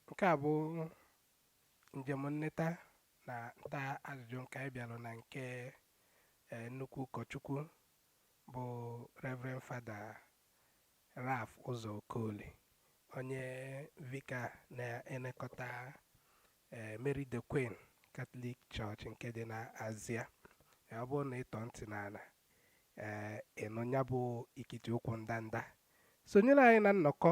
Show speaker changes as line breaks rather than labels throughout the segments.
Nke a bụ njem nleta na nta ajụjụ nke anyị bịara na nke eh, nnukwu ụkọchukwu bụ Reverend Fada Ralph Ụzọ Okoli onye Vicar na-elekọta eh, Mary the Queen Catholic Church nke dị na Azia Eh, ọ bụrụ na ị tọ ntị n'ala ee ị nụ ya bụ ikiti ụkwụ ndanda sonyere anyị na nnọkọ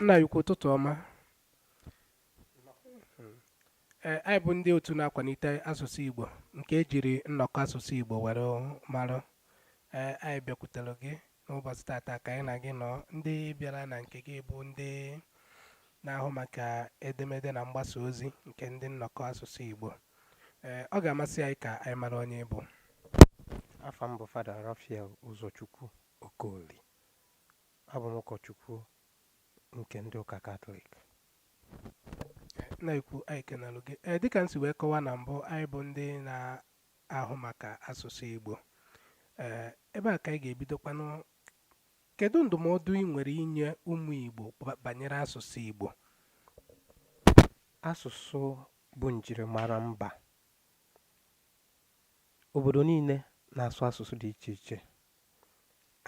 nna anyị ukwu ụtụtụ ọma ee anyị bụ ndị otu na-akwalite asụsụ igbo nke ejiri nnọkọ asụsụ igbo were mara ee anyị bịakwutere gị N'ụbọchị tata ka anyị na gị nọ, ndị bịara na nke gị bụ ndị na-ahụ maka edemede na mgbasa ozi nke ndị nnọkọ asụsụ Igbo. Ee, ọ ga-amasị anyị ka anyị mara onye ị bụ. Afa
m bụ Fada Raphael Ụzọchukwu Okoli. Abụ m ụkọchukwu nke ndị ụka
Katọlik. Nna anyị ukwu anyị kenalụ gị ee dịka m si wee kọwaa na mbụ anyị bụ ndị na ahụ maka asụsụ Igbo ee ebe a ka anyị ga-ebidokwanụ kedu ndụmọdụ ị nwere inye ụmụ Igbo ba- banyere asụsụ Igbo
asụsụ bụ njirimara mba obodo niile na-asụ asụsụ dị iche iche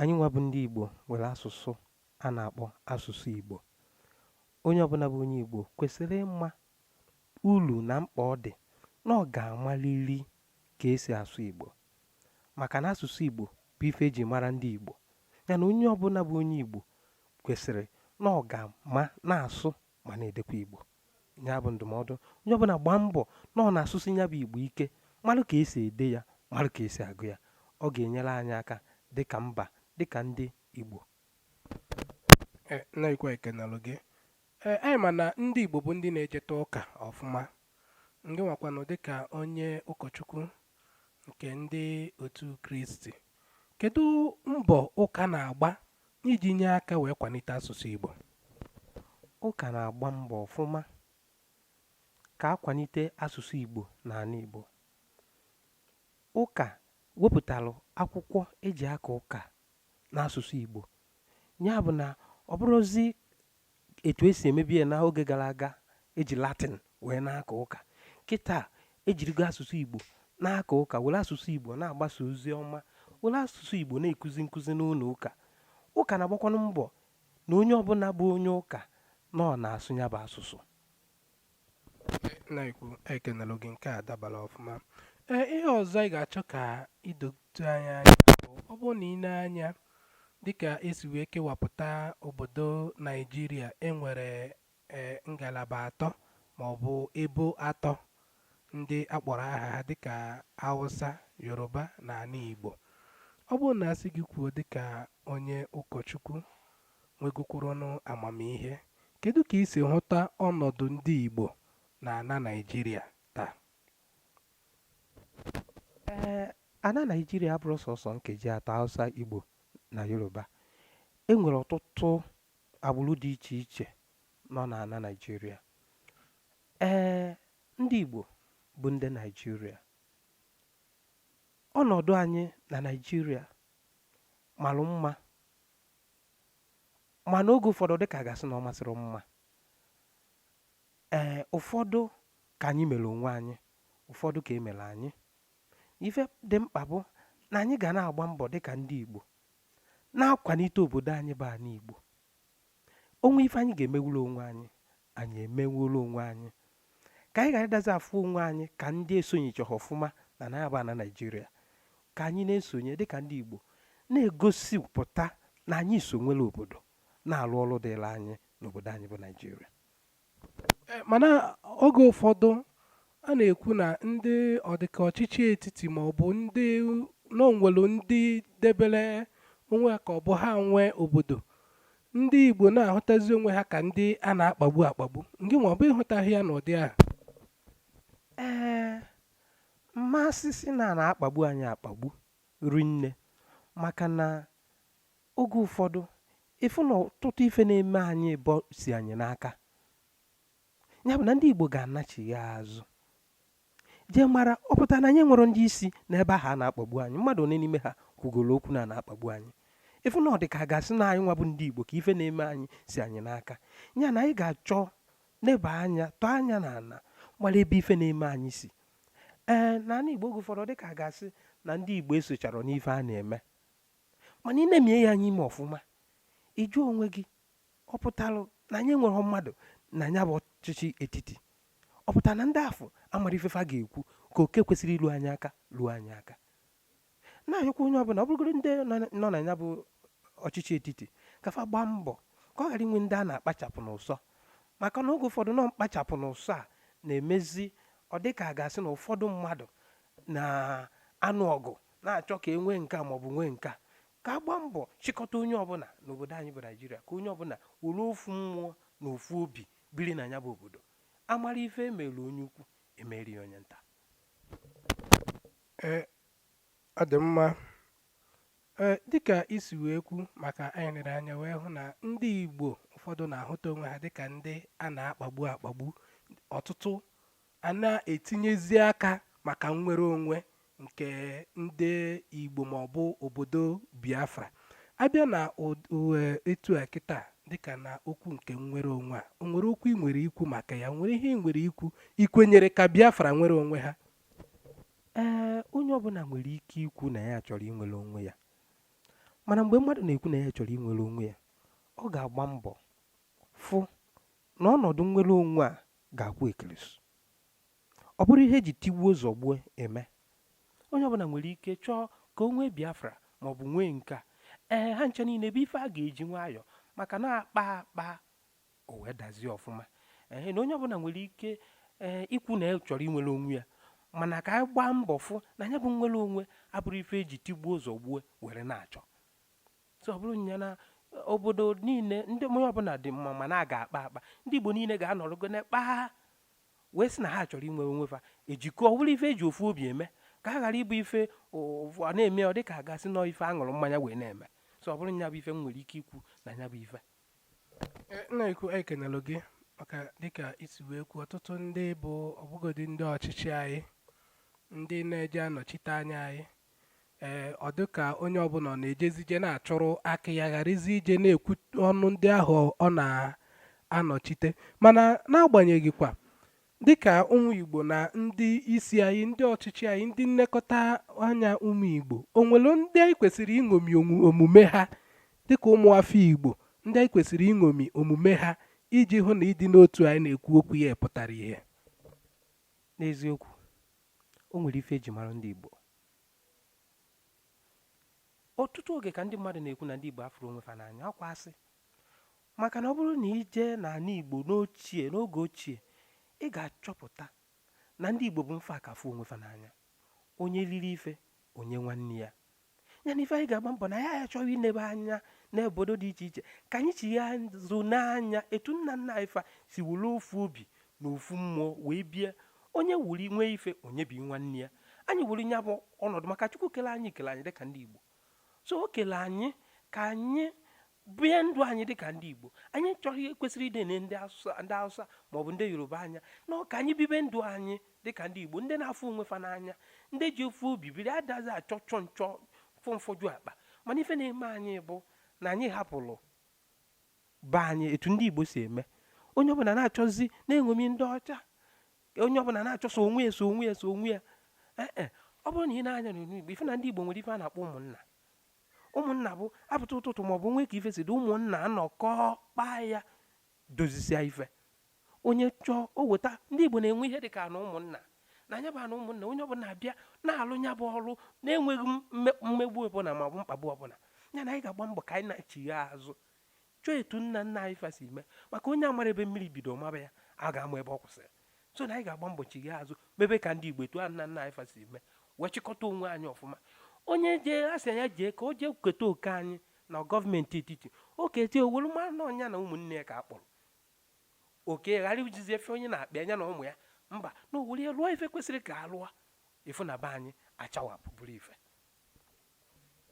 anyị nwa bụ ndị igbo nwere asụsụ a na-akpọ asụsụ igbo onye ọbụla bụ onye igbo kwesịrị ịma uru na mkpa ọ dị na ọ ga-amarịrị ka e si asụ Igbo maka na asụsụ Igbo bụ ife e ji mara ndị Igbo ya na onye ọbụla bụ onye Igbo kwesịrị na ọ ga-ama na-asụ ma na-edekwa Igbo ya bụ ndụmọdụ onye ọbụla gbaa mbọ na ọ na-asụsi ya bụ Igbo ike marụ ka esi ede ya marụ ka esi agụ ya ọ ga-enyere anyị aka dịka mba dịka ndị Igbo e,
nna anyị ukwu ekenalụ gị Ee, anyị ma na ndị Igbo bụ ndị na-ejeta ụka ọfụma. Ngị nwakwanụ dịka onye ụkọchukwu nke ndị otu Kristi, kedu mbọ ụka na-agba iji nye aka wee kwalite asụsụ Igbo?
Ụka na-agba mbọ ọfụma ka a kwalite asụsụ Igbo n'ala Igbo. Ụka wepụtalụ akwụkwọ eji aka ụka n'asụsụ Igbo. Ya bụ na ọ bụrọzi etu e si emebu ya n'oge gara aga eji latin wee na-aka ụka kịta ejirigo asụsụ igbo na-aka ụka were asụsụ igbo na-agbasa ozi ọma were asụsụ igbo na-ekuzi nkụzi n'ụlọ ụka ụka na-agbakwanụ mbọ na onye ọbụla bụ onye ụka na ọ na-asụ ya bụ asụsụ
na-ekwu ekenelụ gị nke a dabara ọfụma ee ihe ọzọ anyị ga-achọ ka idote anyị anya bụ ọ bụrụ na ị nee anya dịka esi wee kewapụta obodo naijiria enwere ee ngalaba atọ ma ọ bụ ebo atọ ndị akpọrọ aha ha dịka hausa yoruba na ana igbo ọ bụrụ na asị gị kwuo dịka onye ụkọchukwu nwegokwuronụ amamihe, kedu ka i si hụta ọnọdụ ndị Igbo n'ana Naịjirịa
taa? Ee, ana Naịjirịa abụrọ sọsọ nkeji atọ, Hausa, Igbo na Yoruba. E nwere ọtụtụ agbụrụ dị iche iche nọ n'ana Naịjirịa. Ee, ndị Igbo bụ ndị Naịjirịa. Ọnọdụ anyị na Naịjirịa mara mma Mana oge ụfọdụ dịka a ga-asị na ọ masịrọ mma ee ụfọdụ ka anyị mere onwe anyị ụfọdụ ka e mere anyị ife dị mkpa bụ na anyị ga na-agba mbọ dịka ndị Igbo na-akwanite obodo anyị bụ ana Igbo o nwee ife anyị ga-emenwulu onwe anyị anyị emenwulu onwe anyị ka anyị ghara ịdazi afụ onwe anyị ka ndị esonyechaghị ọfụma na nya bụ ana naijiria ka anyị na-esonye dịka ndị igbo na-egosipụta na anyị so nwere obodo na-alụ ọrụ dịlị anyị n'obodo anyị bụ naijiria eh,
mana oge ụfọdụ A na-ekwu na ndị ọdịka ọchịchị etiti ma ọ bụ ndị na o nwelu ndị debere onwe ha ka ọ bụ ha nwe obodo ndị Igbo na-ahụtazi onwe ha ka ndị a na-akpagbu akpagbu ngị nwa ọ bụ ịhụtaghị ya n'ụdị ahụ
ee m ma asịsị na a na-akpagbu anyị akpagbu rinne maka na oge ụfọdụ ịfụ na ọtụtụ ife na-eme anyị bụ si anyị n'aka ya bụ na ndị Igbo ga-anachigha azụ jee mara ọ pụtara na anyị enwerọ ndị isi n'ebe ahụ a na-akpagbu anyị mmadụ one n'ime ha kwugoro okwu na a na-akpagbu anyị ịfụ na ọ dị ka a ga-asị na anyị nwa bụ ndị Igbo ka ife na-eme anyị si anyị n'aka ya na anyị ga-achọ neba anya tọọ anya na ala mara ebe ife na-eme anyị si ee na ana Igbo oge ụfọdụ dị ka a ga-asị na ndị Igbo esocharọ n'ife a na-eme mana ị nemie ya anya ime ọfụma ị jụọ onwe gị ọ pụtara na anyị enwerọ mmadụ na nya bụ ọchịchị etiti ọ pụtara na ndị afụ amarọ ife fa ga-ekwu ka oke kwesịrị ilu anyị aka luo anyị aka na-ayọkwa onye ọbụna ọ bụrụgoro ndị nọ na nya bụ ọchịchị etiti ka fa gbaa mbọ ka ọ ghara inwe ndị a na-akpachapụ n'ụsọ maka na oge ụfọdụ na ọ mkpachapụ n'ụsọ a na-emezi ọ dị ka a ga-asị na ụfọdụ mmadụ na-anụ ọgụ na-achọ ka e nwee nke a maọbụ nwee nke a ka a gbaa mbọ chịkọta onye ọbụla n'obodo anyị bụ naijiria ka onye ọbụla were ofu mmụọ na ofu obi biri na ya bụ obodo amara ife emere onye ukwu emeri ya onye nta
Ee, ọ dị mma ee dịka i si wee kwu maka anyị lere anya wee hụ na ndị igbo ụfọdụ na-ahụta onwe ha dịka ndị a na-akpagbu akpagbu ọtụtụ a na-etinyezi aka maka nnwere onwe nke ndị Igbo maọbụ obodo Biafra a bịa na etu a kịta dịka na okwu nke nnwere onwe a o nwere okwu ị nwere ikwu maka ya o nwere ihe ị nwere ikwu i kwenyere ka Biafra nwere onwe ha
ee onye ọbụla nwere ike ikwu na ya chọrọ inwere onwe ya mana mgbe mmadụ na-ekwu na ya chọrọ inwere onwe ya ọ ga-agba mbọ fụ na ọnọdụ nnwere onwe a ga-akwụ ekelesu ọ bụrọ ihe eji tigbuo zọgbuo eme onye ọbụla nwere ike chọọ ka o nwee biafra ma ọ bụ nwee nke a ee ha ncha niile bụ ife a ga-eji nwayọọ maka na a kpaa akpa o wee dazie ọfụma ee na onye ọbụla nwere ike ee ikwu na ya chọrọ inwere onwe ya mana ka anyị gbaa mbọ fụ na ya bụ nnwere onwe abụrọ ife eji tigbuo zọgbuo were na-achọ so ọ bụrụ nya na obodo niile ndị onye ọbụla dị mma mana a ga-akpa akpa ndị igbo niile ga-anọrọgo na kpaa wee sị na ha chọrọ inwe onwe fa ejikọ ọ bụrụ ife eji ofu obi eme ka a ghara ịbụ ife ụfụ a na-eme ọ dịka a ga-asị na ọ ife a ṅụrụ mmanya wee na-eme so ọ bụrụ nya bụ ife m nwere ike ikwu na nya bụ ife Eh,
nna ukwu anyị kenelụ gị maka dịka i si wee kwuo ọtụtụ ndị bụ ọ bụgodi ndị ọchịchị anyị ndị na-eje anọchite anya anyị ee ọ dị ka onye ọbụla ọ na-ejezi ije na-achụrụ aka ya gharazi ije na-ekwu ọnụ ndị ahụ ọ na-anọchite mana n'agbanyeghị kwa dịka ụmụ Igbo na ndị isi anyị ndị ọchịchị anyị ndị nlekọta anya ụmụ Igbo o nwere ndị anyị kwesịrị iṅomi omume ha dịka ụmụ afọ Igbo ndị anyị kwesịrị iṅomi omume ha iji hụ na ịdị n'otu anyị na-ekwu okwu ya pụtara ihe
n'eziokwu o nwere ife eji mara ndị Igbo ọtụtụ oge ka ndị mmadụ na-ekwu na ndị Igbo afụrọ onwe fa n'anya ọ kwa asị maka na ọ bụrụ na i jee n'ani Igbo n'ochie n'oge ochie ị ga-achọpụta na ndị Igbo bụ mfa ka afụ onwe fa n'anya onye liri ife o nye nwanne ya ya na ife anyị ga-agba mbọ na ya anyị achọghị inebe anya n'obodo dị iche iche ka anyị chia azụ nee anya etu nna nna anyị fa si were ofu obi na ofu mmụọ wee bie onye wuri nwee ife o nyebi nwanne ya anyị wuri nya bụ ọnọdụ maka chukwu kele anyị kele anyị dịka ndị igbo so o kele anyị ka anyị bie ndụ anyị dị ka ndị Igbo anyị chọrọ ihe kwesịrị ịdị ene ndị Hausa ma ọ bụ ndị Yoruba anya na ka anyị bibe ndụ anyị dị ka ndị Igbo ndị na-afụ onwe fa n'anya ndị ji ofu obi biri adazi achọ chọ nchọ fọmfọju akpa mana ife na-eme anyị bụ na anyị hapụrụ be anyị etu ndị Igbo si eme onye ọbụla na-achọzi na-eṅomi ndị ọcha onye ọbụla na-achọ sọ onwe ya sọ onwe ya sọ onwe ya ee ọ bụrụ na i nee anya n'onyonyo Igbo ị fụ na ndị Igbo nwere ife a na-akpọ ụmụnna ụmụnna bụ a pụta ụtụtụ maọbụ nwee ka ife si dị ụmụnna anọkọọ kpaa ya dozisia ife onye chọọ o weta ndị Igbo na-enwe ihe dị ka ana ụmụnna na nya bụ ana ụmụnna onye ọbụla abịa na-alụ nya bụ ọrụ na-enweghị mmegbu ọbụla maọbụ mkpagbu ọbụla ya na anyị ga-agba mbọ ka anyị na-achigha azụ chọọ etu nna nna anyị fa si mee maka onye amara ebe mmiri bido maba ya a ga-ama ebe ọ kwụsịrị so na anyị ga-agba mbọ chigha azụ mebe ka ndị igbo etu nna nna anyị fa si mee wee chịkọta onwe anyị ọfụma onye jee a sị ya jee ka o jee keta oke anyị na gọọmenti etiti o kete o welu mara na ọ nya na ụmụnne ya ka a kpọrọ oke ghara ijizi efe onye na-akpa nya na ụmụ ya mba na o were ya lụọ ife kwesịrị ka a lụọ ị fụ na be anyị achawapụ bụrụ ife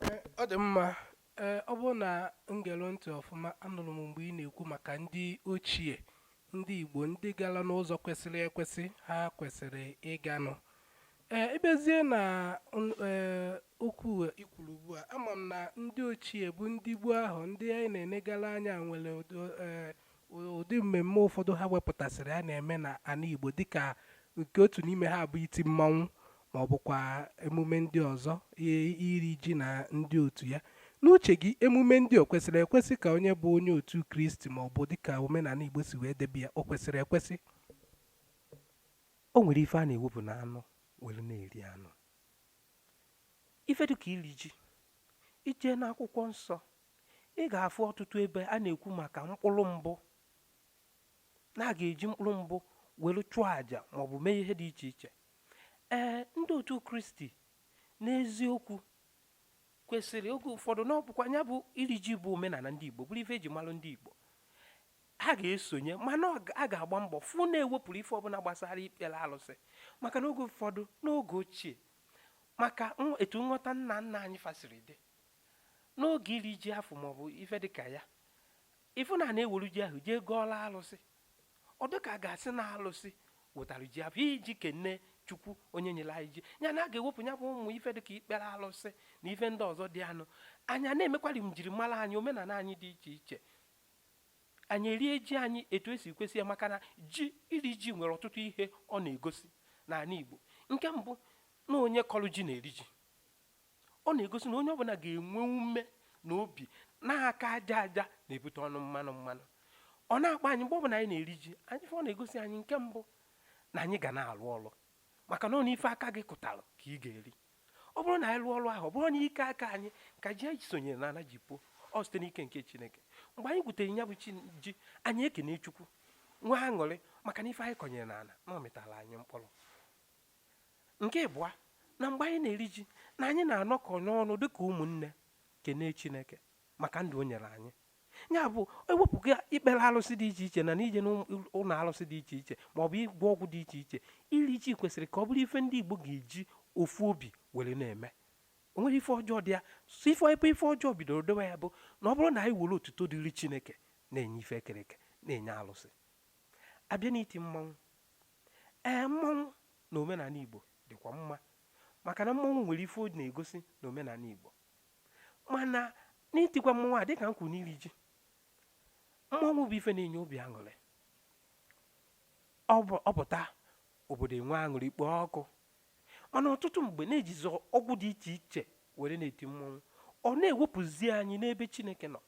Ee, ọ dị mma ee ọ bụrụ na m gere ntị ọfụma anụrụ m mgbe ị na-ekwu maka ndị ochie ndị igbo ndị gara n'ụzọ kwesịrị ekwesị ha kwesịrị ịganụ ee ị bịazie na n- ee, okwu a i kwuru ugbu a ama m na ndị ochie bụ ndị gboo ahụ ndị anyị na-enegara anya nwere ụdị, ee, Ụdị mmemme ụfọdụ ha wepụtasịrị a na-eme na ana Igbo dịka nke otu n'ime ha bụ iti mmanwụ ma ọ bụkwa emume ndị ọzọ i- iri ji na ndị otu ya. N'uche gị, emume ndị o kwesịrị ekwesị ka onye bụ onye otu Kristi ma ọ bụ dịka omenala Igbo si wee debe ya, o kwesịrị
ekwesị? O nwere ife a na-ewepụ na anụ were na-eri anụ. Ife dịka iri ji, i jee n'akwụkwọ nsọ Ị ga-afụ ọtụtụ ebe a na-ekwu maka mkpụrụ mbụ na a ga-eji mkpụrụ mbụ were chụọ àjà maọbụ mee ihe dị iche iche ee ndị otu kristi n'eziokwu kwesịrị oge ụfọdụ na ọ bụkwa nya bụ iri ji bụ omenala ndị igbo bụrụ ife e ji malụ ndị igbo ha ga-esonye mana ọ ga- a ga-agba mbọ fụ na e wepụrụ ife ọbụla gbasara ikpere alụsị maka na oge ụfọdụ n'oge ochie maka nw- etu nghọta nna nna anyị fa siri dị n'oge iri ji afụ maọbụ ife dịka ya ị fụ na a na-ewere ji ahụ jee gọọlụ alụsị ọ dịka a ga-asị na alụsị wetara ji afụ iji kene chukwu onye nyere anyị ji ya na a ga-ewepụ ya bụ ụmụ ife dịka ikpere alụsị na ife ndị ọzọ dị na ya anyị na-emekwari njirimara anyị omenala anyị dị iche iche anyị erie ji anyị etu o si kwesị ya maka na ji iri ji nwere ọtụtụ ihe ọ na-egosi n'ala Igbo nke mbụ na onye kọrọ ji na-eri ji ọ na-egosi na onye ọbụla ga-enwe ume na obi na aka aja aja na-ebute ọnụ mmanụ mmanụ ọ na-akpa anyị mgbe ọbụla anyị na-eri ji anyị ọ na-egosi anyị nke mbụ na anyị ga na-alụ ọlụ maka na ọ na ife aka gị kụtara ka ị ga-eri ọ bụrụ na anyị lụọ ọlụ ahụ ọ bụrọ n'ike aka anyị ka ji anyị sonyere n'ana ji pụọ ọ site n'ike nke chineke mgbe anyị gwutere ya bụ ji anyị ekene chukwu nwee aṅụrị maka na ife anyị kọnyere n'ala na ọ mịtara anyị mkpụrụ nke ịbụa na mgbe anyị na-eri ji na anyị na-anọkọ n'ọnụ dịka ụmụnne kene chineke maka ndụ o nyere anyị ya bụ e wepụga ikpere alụsị dị iche iche na n'ije n'ụlọ alụsị dị iche iche ma ọ bụ ịgwọ ọgwụ dị iche iche iri ji kwesịrị ka ọ bụrụ ife ndị igbo ga-eji ofu obi were na-eme o nwerọ ife ọjọọ dị ya so ife ebe ife ọjọọ bidoro dowe ya bụ na ọ bụrụ na anyị were otuto dịrị chineke na-enye ife e kere eke na-enye alụsị a bịa n'iti mmanwụ Ee, mmọnwụ na omenala Igbo dịkwa mma maka na mmọnwụ nwere ife ọ na-egosi na omenala Igbo. Mana n'itikwa mmọnwụ a dịka m kwuru n'iri ji, mmọnwụ bụ ife na-enye obi aṅụrị. Ọ pụta obodo enwe aṅụrị kpoo ọkụ. Mana ọtụtụ mgbe na-ejizi ọgwụ dị iche iche were na-eti mmọnwụ. Ọ na-ewepụzi anyị n'ebe Chineke nọ.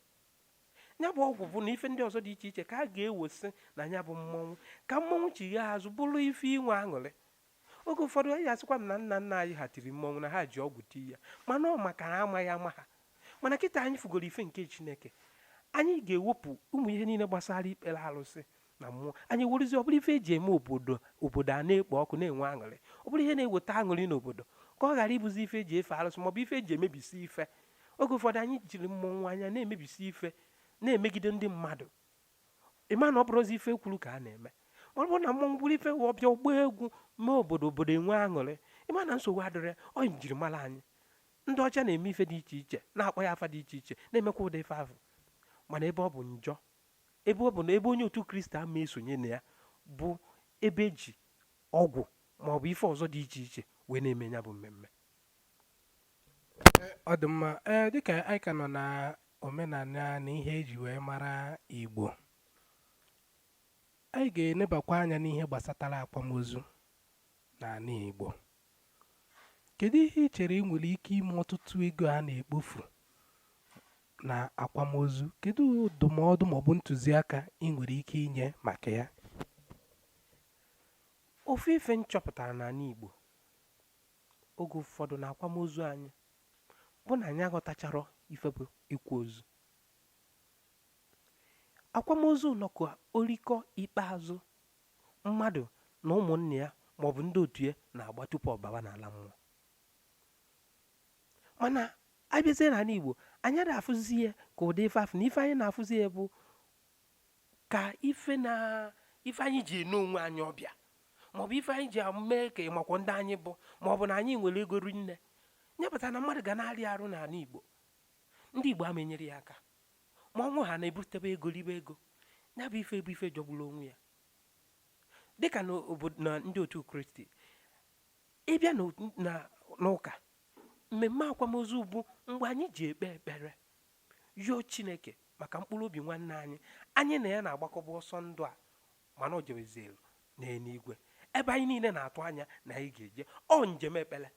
ya bụ ọgwụ bụ na ife ndị ọzọ dị iche iche ka a ga-ewesị na ya bụ mmọnwụ ka mmọnwụ chighaa azụ bụrụ ife inwe aṅụrị oge ụfọdụ anyị asịkwanụ na nna nna anyị ha tiri mmọnwụ na ha ji ọgwụ tii ya mana ọ maka na amaghị ama ha mana kịta anyị fụgoro ife nke chineke anyị ga-ewepụ ụmụ ihe niile gbasara ikpere alụsị na mmụọ anyị werezi ọ bụrụ ife eji eme obodo obodo a na-ekpo ọkụ na-enwe aṅụrị ọ bụrụ ihe na-eweta aṅụrị n'obodo ka ọ ghara ịbụzi ife eji efe alụsị maọbụ ife eji emebisi ife oge ụfọdụ anyị jiri mmọnwụ anyị na-emebisi ife na-emegide ndị mmadụ ị ma na ọ bụrọzi ife e kwuru ka a na-eme ọ bụrụ na mmọnwụ bụrụ ife ọ bịa ọ gbaa egwu mee obodo obodo enwe aṅụrị ị ma na nsogbu adịrọ ọ njirimara anyị ndị ọcha na-eme ife dị iche iche na-akpọ ya afa dị iche iche na-emekwa ụdị ife ahụ mana ebe ọ bụ njọ ebe ọ bụ na ebe onye otu kristi ama esonye na ya bụ ebe eji ọgwụ ma ọ bụ ife ọzọ dị iche iche wee na-eme ya bụ mmemme
ọ dị mma ee dịka anyị ka nọ na omenala na ihe eji wee mara igbo anyị ga-enebakwa anya n'ihe gbasatara akwamozu n'ala igbo Kedu ihe i chere ị nwere ike ime ọtụtụ ego a na-ekpofu na akwamozu? Kedu ndụmọdụ maọbụ ntụziaka ị nwere ike inye maka ya?
Ofu ife m chọpụtara n'ala Igbo oge ụfọdụ na akwamozu anyị bụ na anyị aghọtacharọ ife bụ ịkwa ozu. Akwamozu nọkwa orikọ ikpeazụ mmadụ na ụmụnne ya maọbụ ndị otu ya na-agba tupu ọ baba n'ala mmụọ mana abịazie n'ala Igbo anyị ada afụzi ya ka ụdị ife afụ na ife anyị na-afụzi ya bụ ka ife anyị ji ene onwe anyị ọbịa maọbụ ife anyị ji mee ka ị makwa ndị anyị bụ maọbụ na anyị nwere ego rinne nya kpata na mmadụ ga na-arịa arụ n'ala Igbo ndị Igbo ama enyere ya aka ma ọ nwụọ ha na-ebutebe ego ribe ego ya bụ ife bụ ife jọgburu onwe ya dịka na ndị otu kristi ị bịa n'ụka mmemme akwamozu bụ mgbe anyị ji ekpe ekpere yọọ chineke maka mkpụrụ obi nwanne anyị anyị na ya na-agbakọbu ọsọ ndụ a mana o jebezelu n'eluigwe ebe anyị niile na-atụ anya na anyị ga-eje ọ njem ekpere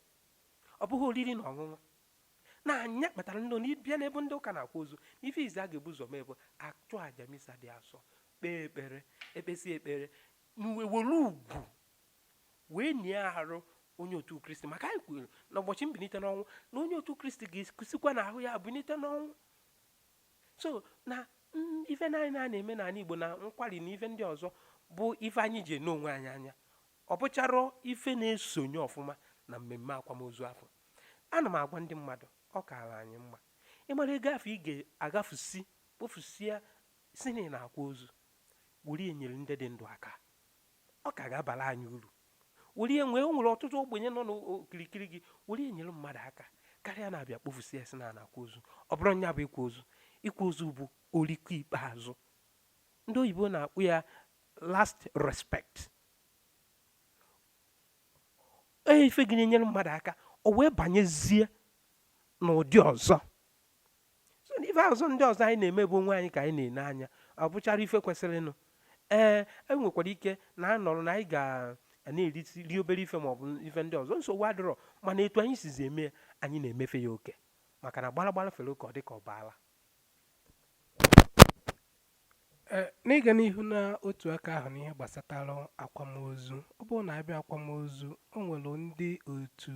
ọ bụghị oriri na ọṅụṅụ na nya kpatara ndị na ị bịa n'ebe ndị ụka na-akwa ozu na ife izi a ga-ebu ụzọ mee bụ achụọ aja misa dị asọ kpee ekpere ekpesịa ekpere e wee were ugwu wee nie arụ onye otu kristi maka anyị kwere na ụbọchị mbilite n'ọnwụ na onye otu kristi ga-esikwa na ahụ ya bilite n'ọnwụ so na ife anyị na-eme n'ala igbo na nkwari na ife ndị ọzọ bụ ife anyị ji ene onwe anyị anya ọ bụcharọ ife na-esonye ọfụma na mmemme akwamozu afụ ana m agwa ndị mmadụ ọ kaala anyị mma ịmara ego afụ ị ga-agafusi kpofusia sị na ị na-akwa ozu were nyere ndị dị ndụ aka ọ ka ga-abara anyị uru were e nwere ọtụtụ ogbenye nọ n'okirikiri gị were nyere mmadụ aka karịa na-abịa kpofusie sị na a na-akwa ozu ọ bụrụ nya bụ ịkwa ozu ịkwa ozu bụ oriko ikpeazụ ndị oyibo na-akpọ ya last respect ife gị na-enyere mmadụ aka o wee banyezie n'ụdị ọzọ so na ife ọzọ ndị ọzọ anyị na-eme bụ onwe anyị ka anyị na-ene anya ọ bụcharọ ife kwesịrịnụ ee e nwekwara ike na anọrọ na anyị ga na-eri obere ife ma ọ bụ ife ndị ọzọ nsogbu adịrọ mana etu anyị sizi eme ya anyị na-emefe ya oke maka na gbara gbara fere oke ọ dị ka ọ bụ ara
Ee, n'ịga n'ihu na otu aka ahụ n'ihe gbasatara akwamozu ọ bụrụ na abịa akwamozu o nwere ndị otu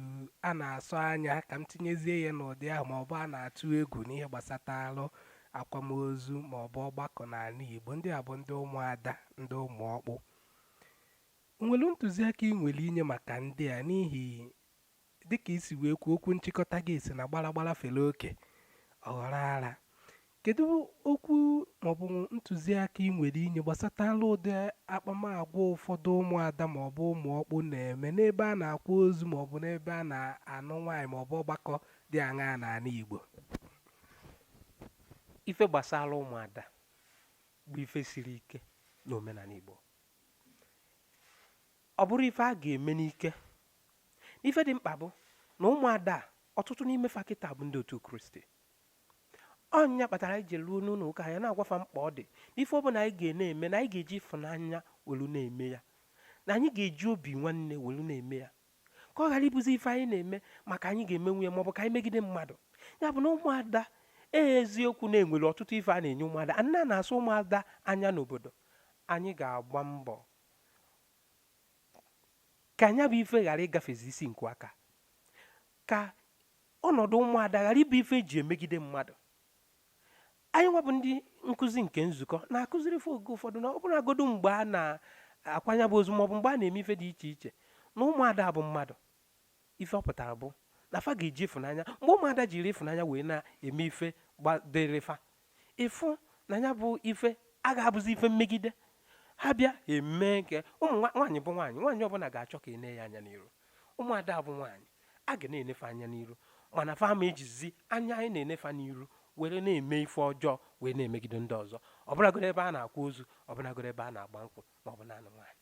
a na-asọ anya ka m tinyezie ya n'ụdị ahụ ma ọ bụ a na-atụ egwu n'ihe gbasatara akwamozu ma ọ bụ ọgbakọ n'ala Igbo ndị a bụ ndị ụmụada ndị ụmụ ọkpụ o nwere ntụziaka ị nwere inye maka ndị a n'ihi Dịka i si wee kwuo, okwu nchịkọta gị sị na gbara gbara fere oke, ọ ghọrọ ara. Kedụ okwu maọbụ ntụziaka i nwere inye gbasatara ụdị akpamagwa ụfọdụ ụmụada maọbụ ụmụọkpụ na-eme n'ebe a na-akwa ozu maọbụ n'ebe a na-anụ nwaanyị maọbụ ọgbakọ dị aṅaa n'ala
Igbo? Ife gbasara ụmụada bụ ife siri ike n'omenala Igbo. Ọ bụrọ ife a ga-eme n'ike n'ife dị mkpa bụ na ụmụada a ọtụtụ n'ime fa kịta bụ ndị otu kristi ọ nya kpatara anyị ji ruo n'ụlọ ụka anyị na-agwa fa mkpa ọ dị na ife ọbụla anyị ga-na-eme na anyị ga-eji ịfụnanya welu na-eme ya na anyị ga-eji obi nwanne welu na-eme ya ka ọ ghara ịbụzi ife anyị na-eme maka anyị ga-emenwu ya maọbụ ka anyị megide mmadụ ya bụ na ụmụada ee eziokwu na e nwere ọtụtụ ife a na-enye ụmụada na a na-asọ ụmụada anya n'obodo anyị ga-agba mbọ ka nya bụ ife ghara ịgafezi isi nku aka ka ọnọdụ ụmụada ghara ịbụ ife e ji emegide mmadụ anyị nwa bụ ndị nkụzi nke nzukọ na-akụziri fa oge ụfọdụ na ọ bụrụgodu mgbe a na-akwa nya bụ ozu maọbụ mgbe a na-eme ife dị iche iche na ụmụada bụ mmadụ Ife ọ pụtara bụ na fa ga-eji ịfụnanya mgbe ụmụada jiri ịfụnanya wee na-eme ife dịrị fa ịfụ na ya bụ ife a ga-abụzi ife mmegide ha bịa eme nke ụmụ nwaanyị bụ nwaanyị nwaanyị ọbụla ga-achọ ka e nee ya anya n'iru ụmụada bụ nwaanyị a ga na-ene fa anya n'iru mana fa ma ejizi anya anyị na-ene fa n'iru were na-eme ife ọjọọ wee na-emegide ndị ọzọ ọbụlagodu ebe a na-akwa ozu ọbụlagodu ebe a na-agba nkwụ ma ọ bụ na-anụ nwaanyị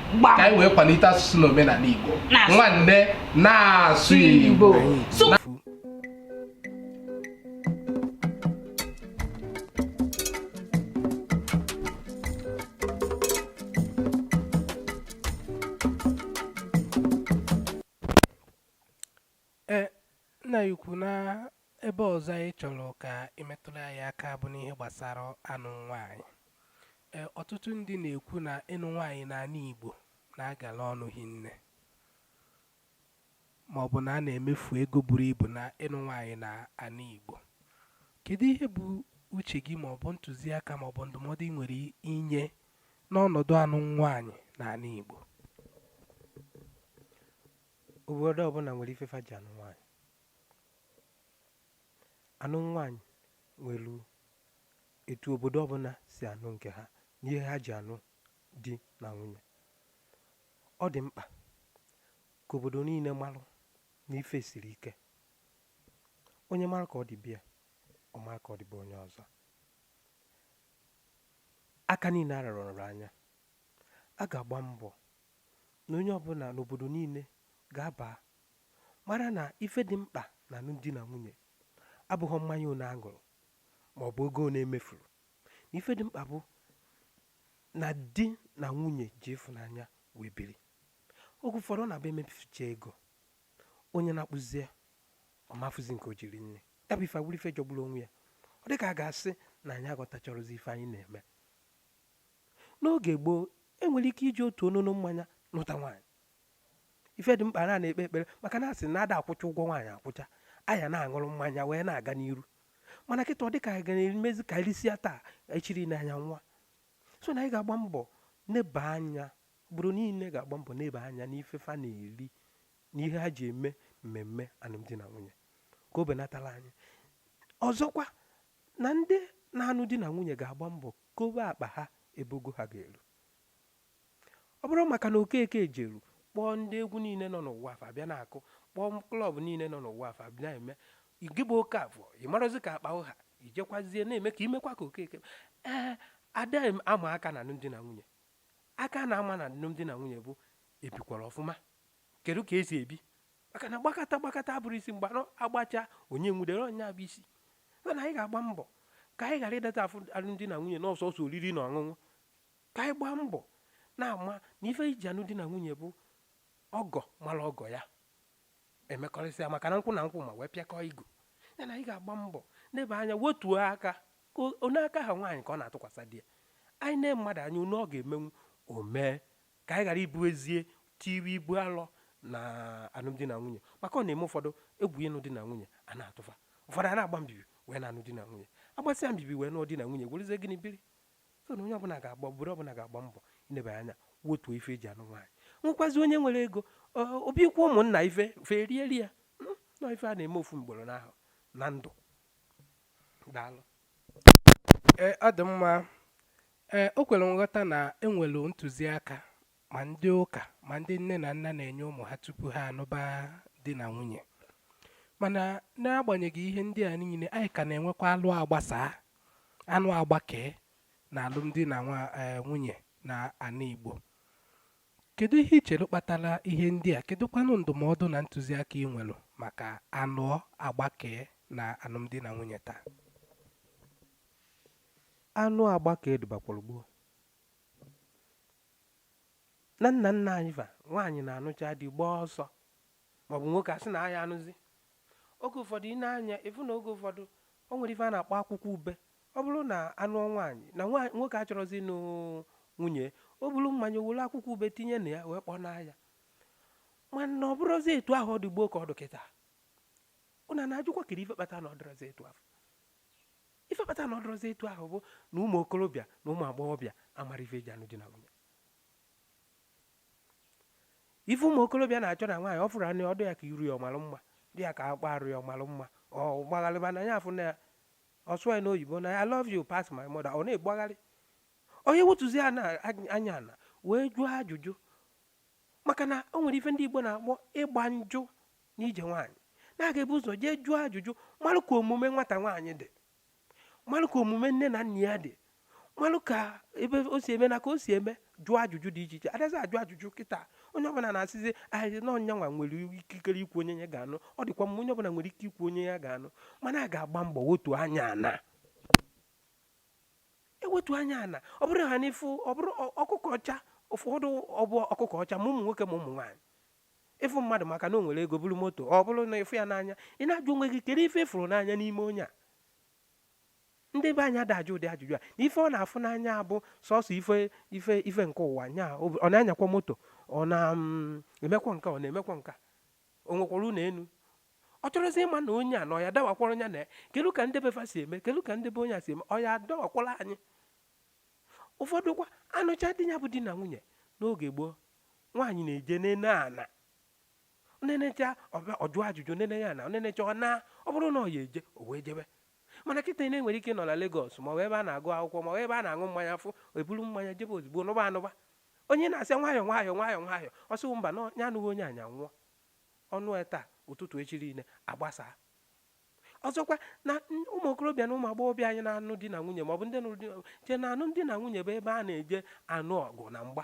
Gbam. ka anyị wee kwalite asụsụ na omenala Igbo Na-asụ. nwanne na-asụ Igbo Sụ-
ee nna anyị ukwu na Ebe ọzọ anyị chọrọ ka ị metụrụ anyị aka bụ n'ihe gbasara anụ nwaanyị. E, ọtụtụ ndị na-ekwu na ịnụ nwaanyị n'ala Igbo na-agala ọnụ hinne ma ọ bụ na a na-emefu ego buru ibu na ịnụ nwaanyị n'ala Igbo. Kedu ihe bụ uche gị ma ọ bụ ntụziaka ma ọ bụ ndụmọdụ ị nwere inye n'ọnọdụ anụ nwaanyị n'ala Igbo?
Obodo ọbụla nwere ife fa ji anụ nwaanyị. anụ nwaanyị nwere etu obodo ọbụla si anụ nke ha na ihe ha ji anụ di na nwunye ọ dị mkpa ka obodo niile marụ na ife siri ike onye mara ka ọ dị be ya ọ mara ka ọ dị be onye ọzọ aka niile ararọ anya a ga-agba mbọ na onye ọbụla n'obodo niile ga-aba mara na ife dị mkpa na alụmdi na nwunye abụghọ mmanya one aṅụrụ ma ọ bụ ego one emefuru na ife dị mkpa bụ na di na nwunye ji ịfụnanya wee biri oge ụfọdụ ọ na-abụ emefucha ego onye na-akpụzie ọ ma afụzi nke o ji eri nri ya bụ ife awụrụ ife jọgburu onwe ya ọ dị ka a ga-asị na anyị aghọtachọrọzi ife anyị na-eme n'oge gboo enwere ike iji otu onono mmanya nụta nwaanyị ife dị mkpa na na-ekpe ekpere maka na asị na ada akwụcha ụgwọ nwaanyị akwụcha a ya na-aṅụrụ mmanya wee na-aga n'iru mana kịta ọ dị ka anyị ga na-emezi ka irisia taa echiri n'anya nwa so na anyị ga-agba mbọ neba anya obodo niile ga-agba mbọ neba anya n'ife fa na-eri na ihe ha ji eme mmemme alụmdi na nwunye ka o benatala anyị ọzọkwa na ndị na-anụ di na nwunye ga-agba mbọ kobe akpa ha ebe ogo ha ga-eru ọ bụrụ maka na okeke jeru kpọọ ndị egwu niile nọ n'ụwa a fa bịa na-akụ kpọọ klọb niile nọ n'ụwa a fa bịa na-eme gị bụ okeafọ ị marazi ka akpa ị ha ijekwazie na-eme ka imekwa ka okeke ee ada ama aka na alụmdi na nwunye aka a na-ama na alụmdi na nwunye bụ ebikwara ọfụma kedu ka esi ebi maka na gbakọta gbakọta abụrọ isi mgba agbacha onye nwudere onye a bụ isi mana anyị ga-agba mbọ ka anyị ghara ịdata afụ alụmdi na nwunye na sọsọ oriri na ọṅụṅụ ka anyị gbaa mbọ na-ama na ife eji anụ di na nwunye bụ ọgọ mara ọgọ ya emekọrịsịa maka na nkwụ na nkwụ ma wee pịakọọ igu ya na anyị ga-agba mbọ neba anya wetuo aka ka onye aka ha nwaanyị ka ọ na-atụkwasị di ya anyị nee mmadụ anya one ọ ga-emenwu o mee ka anyị ghara ibuzie tiwe ibu alọ na alụmdi na nwunye maka ọ na-eme ụfọdụ egwu ịnụ di na nwunye a na-atụ fa ụfọdụ a na-agba mbibi wee na-anụ di na nwunye agbasịa mbibi wee nụọ di na nwunye werezie gịnị biri so na onye ọbụla ga-agba obodo ọbụla ga-agba mbọ inebanye anya wetuo ife eji anụ nwaanyị nwekwazi onye nwere ego o bunyekwa ụmụnna ife fa rie rie ya hmm, na ọ ife a na-eme ofu mgboro n'ahụ na ndụ
daalụ e, ọ dị mma e, o kwere nghọta na enwere ntụziaka ma ndị ụka ma ndị nne na nna na-enye ụmụ ha tupu ha anụba di na nwunye mana n'agbanyeghị ihe ndị a niile anyị ka na-enwekwa alụ agbasaa anụ agbakee na alụmdi na e, nwunye na ana Igbo kedu ihe i chere kpatara ihe ndị a kedụkwanụ ndụmọdụ na ntụziaka ị nwere maka anụ agbakee na alụmdi na nwunye taa
anụ agbakee dịbakwara gboo na nna nna anyị fa nwaanyị na-anụcha di gbaa ọsọ maọbụ nwoke asị na aya anụzi oge ụfọdụ ị na-anya ịfụ na oge ụfọdụ o nwere ife a na-akpọ akwụkwọ ube ọ bụrụ na anụ nwaanyị na nwoke achọrọzi ịnụ nwunye o buru mmanya were akwụkwọ ube tinye na ya wee kpọnaa ya mana ọ bụrọzi etu ahụ ọ dị gboo ka ọ dụ kịta ụna na-ajụkwa kiri ife kpata na ọ dịrọzi etu ahụ Ife kpata na ọ dịrọzi etu ahụ bụ na ụmụ okorobịa na ụmụ agbọghọbịa amarọ ife eji anụ di na nwunye ife ụmụ okorobịa na-achọ na nwaanyị ọ fụrụ onye ọ dụ ya ka iru ya ọ malụ mma dị ya ka akpa arụ ya ọ malụ mma ọ gbagharịba na ya afụ n'anya ọ sụ ya n'oyibo na I love you pass my mother ọ na-egbagharị ọ ya-ewetuzi anya ana wee jụọ ajụjụ maka na o nwere ife ndị Igbo na-akpọ ịgba njụ n'ije nwaanyị na a ga-ebu ụzọ jee jụọ ajụjụ malụ ka omume nwata nwaanyị dị malụ ka omume nne na nna ya dị malụ ka ebe o si eme na ka o si eme jụọ ajụjụ dị iche iche adazi ajụ ajụjụ kịta onye ọbụla na-asịzi ahịrị na ọ nya nwa nwere ikikere ikwu onye ya ga-anụ ọ dịkwa mma onye ọbụla nwere ike ikwu onye ya ga-anụ mana a ga-agba mbọ wetu anya ana ewetu anya ana ọ bụrụ ha n'ịfụ ọ bụrụ ọkụkọ ọcha ụfọdụ ọbụ ọkụkọ ọcha ma ụmụ nwoke ma ụmụ nwaanyị ịfụ mmadụ maka na o nwere ego buru moto ọ bụrụ na ịfụ ya n'anya ị na-ajụ onwe gị kedu ife ịfụrụ n'anya n'ime onye a ndị be anyị ada ajụ ụdị ajụjụ a na ife ọ na-afụ n'anya bụ sọsọ ife ife ife nke ụwa nya ọ na-anyakwa moto ọ na-emekwa mm, nka ọ na-emekwa nka o nwekwara ụlọ elu ọ chọrọzi ịma na onye a na ọ ya-adawakwara onye na ya kedu ka ndị befa si eme kedu ka ndị be onye a si eme ọ ya-adawakwala anyị ụfọdụkwa anụcha di ya bụ di na nwunye n'oge gboo nwaanyị na-eje nene ana nenecha ọ bịa jụọ ajụjụ nene ana nenecha ọ na ọ bụrụ na ọ ya eje o wee jebe mana kịta ị na-enwere ike nọ na Lagos ma ọ bụ ebe a na-agụ akwụkwọ ma ọ bụ ebe a na-aṅụ mmanya afụ eburu mmanya jebe ozugbo nụba anụba onye na-asị nwayọ nwayọ nwayọ nwayọ ọ sị mba na ya anụghị onye a nya nwụọ ọ nụ taa ụtụtụ echi niile agbasaa ọzọkwa na ụmụ okorobịa na ụmụ agbọghọbịa anyị na-anụ di na nwunye maọbụ ndị nụrụ di chee na anụm di na nwunye bụ ebe a na-eje anụ ọgụ na mgba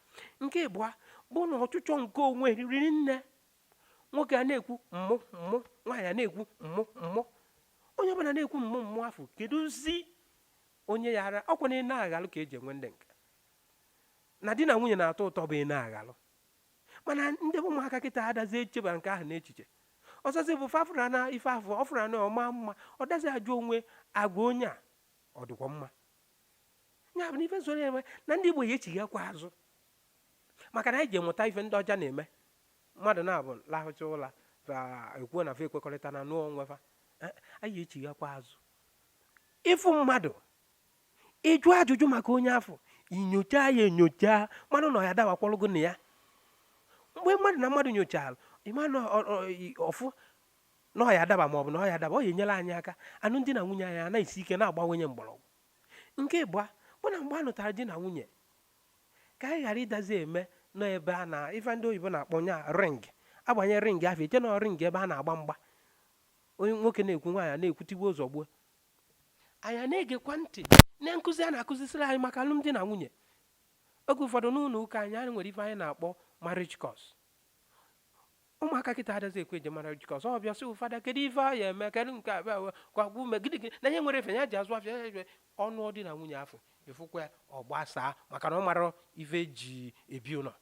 nke ịbụa bụ na ọchụchọ nke onwe riri nne nwoke a na-ekwu mmụ mmụ nwaanyị a na-ekwu mmụ mmụ onye ọbụla na-ekwu mmụ mmụ afụ keduzi onye ya-ara ọkwa na ị na-aghalụ ka eji enwe ndị nke na di na nwunye na-atọ ụtọ bụ ị na-aghalụ mana ndị bụ ụmụaka kịta adazi echeba nke ahụ n'echiche ọzọzi bụ fa fụra na ife afụ ọ fụra na ọ ma mma ọ dazi ajụ onwe agwa onye a ọ dịkwa mma ya bụ na ife soro enwe na ndị Igbo ya echighakwa azụ maka na anyị jee mụta ife ndị ọcha na-eme mmadụ naabụ lahụcha ụla ekwuo na fa ekwekọrịta na nụọ onwe fa eh, anyị echighakwa azụ ịfụ mmadụ ịjụ ajụjụ maka onye afụ inyocha ya enyocha mmadụ na ya dawakwọlụgo na ya mgbe mmadụ na mmadụ nyochara ịma na ọ fụ na ọ ya adaba ma ọ bụ na ọ ya adaba ọ ya enyela anyị aka anụmdi na nwunye anyị ana-esi ike na-agbanye mgbọrọgwụ nke ịbụa bụ na mgbe a nụtara di na nwunye ka anyị ghara ịdazi eme nọ ebe a na ife ndị oyibo na-akpọ nya ring agbanye ring ahụ eche na ring ebe a na-agba mgba onye nwoke na-ekwu nwaanyị na-ekwu tigbuo zọgbuo anyị na-egekwa ntị na nkụzi a na-akụzisiri anyị maka anụmdi na nwunye oge ụfọdụ n'ụlọ ụka anyị anyị nwere ife anyị na-akpọ marriage course ụmụaka kịta adazi ekwe eje marriage course ọ bịa sị ụfọdụ kedu ife a ya eme kedu nke abịa we gwagwa ume gịnị gịnị na ihe nwere efe ya ji azụ afịa ya efe anụmdi na nwunye afụ ị fụkwa ya ọ gbasaa maka na ọ mara ife eji ebi ụlọ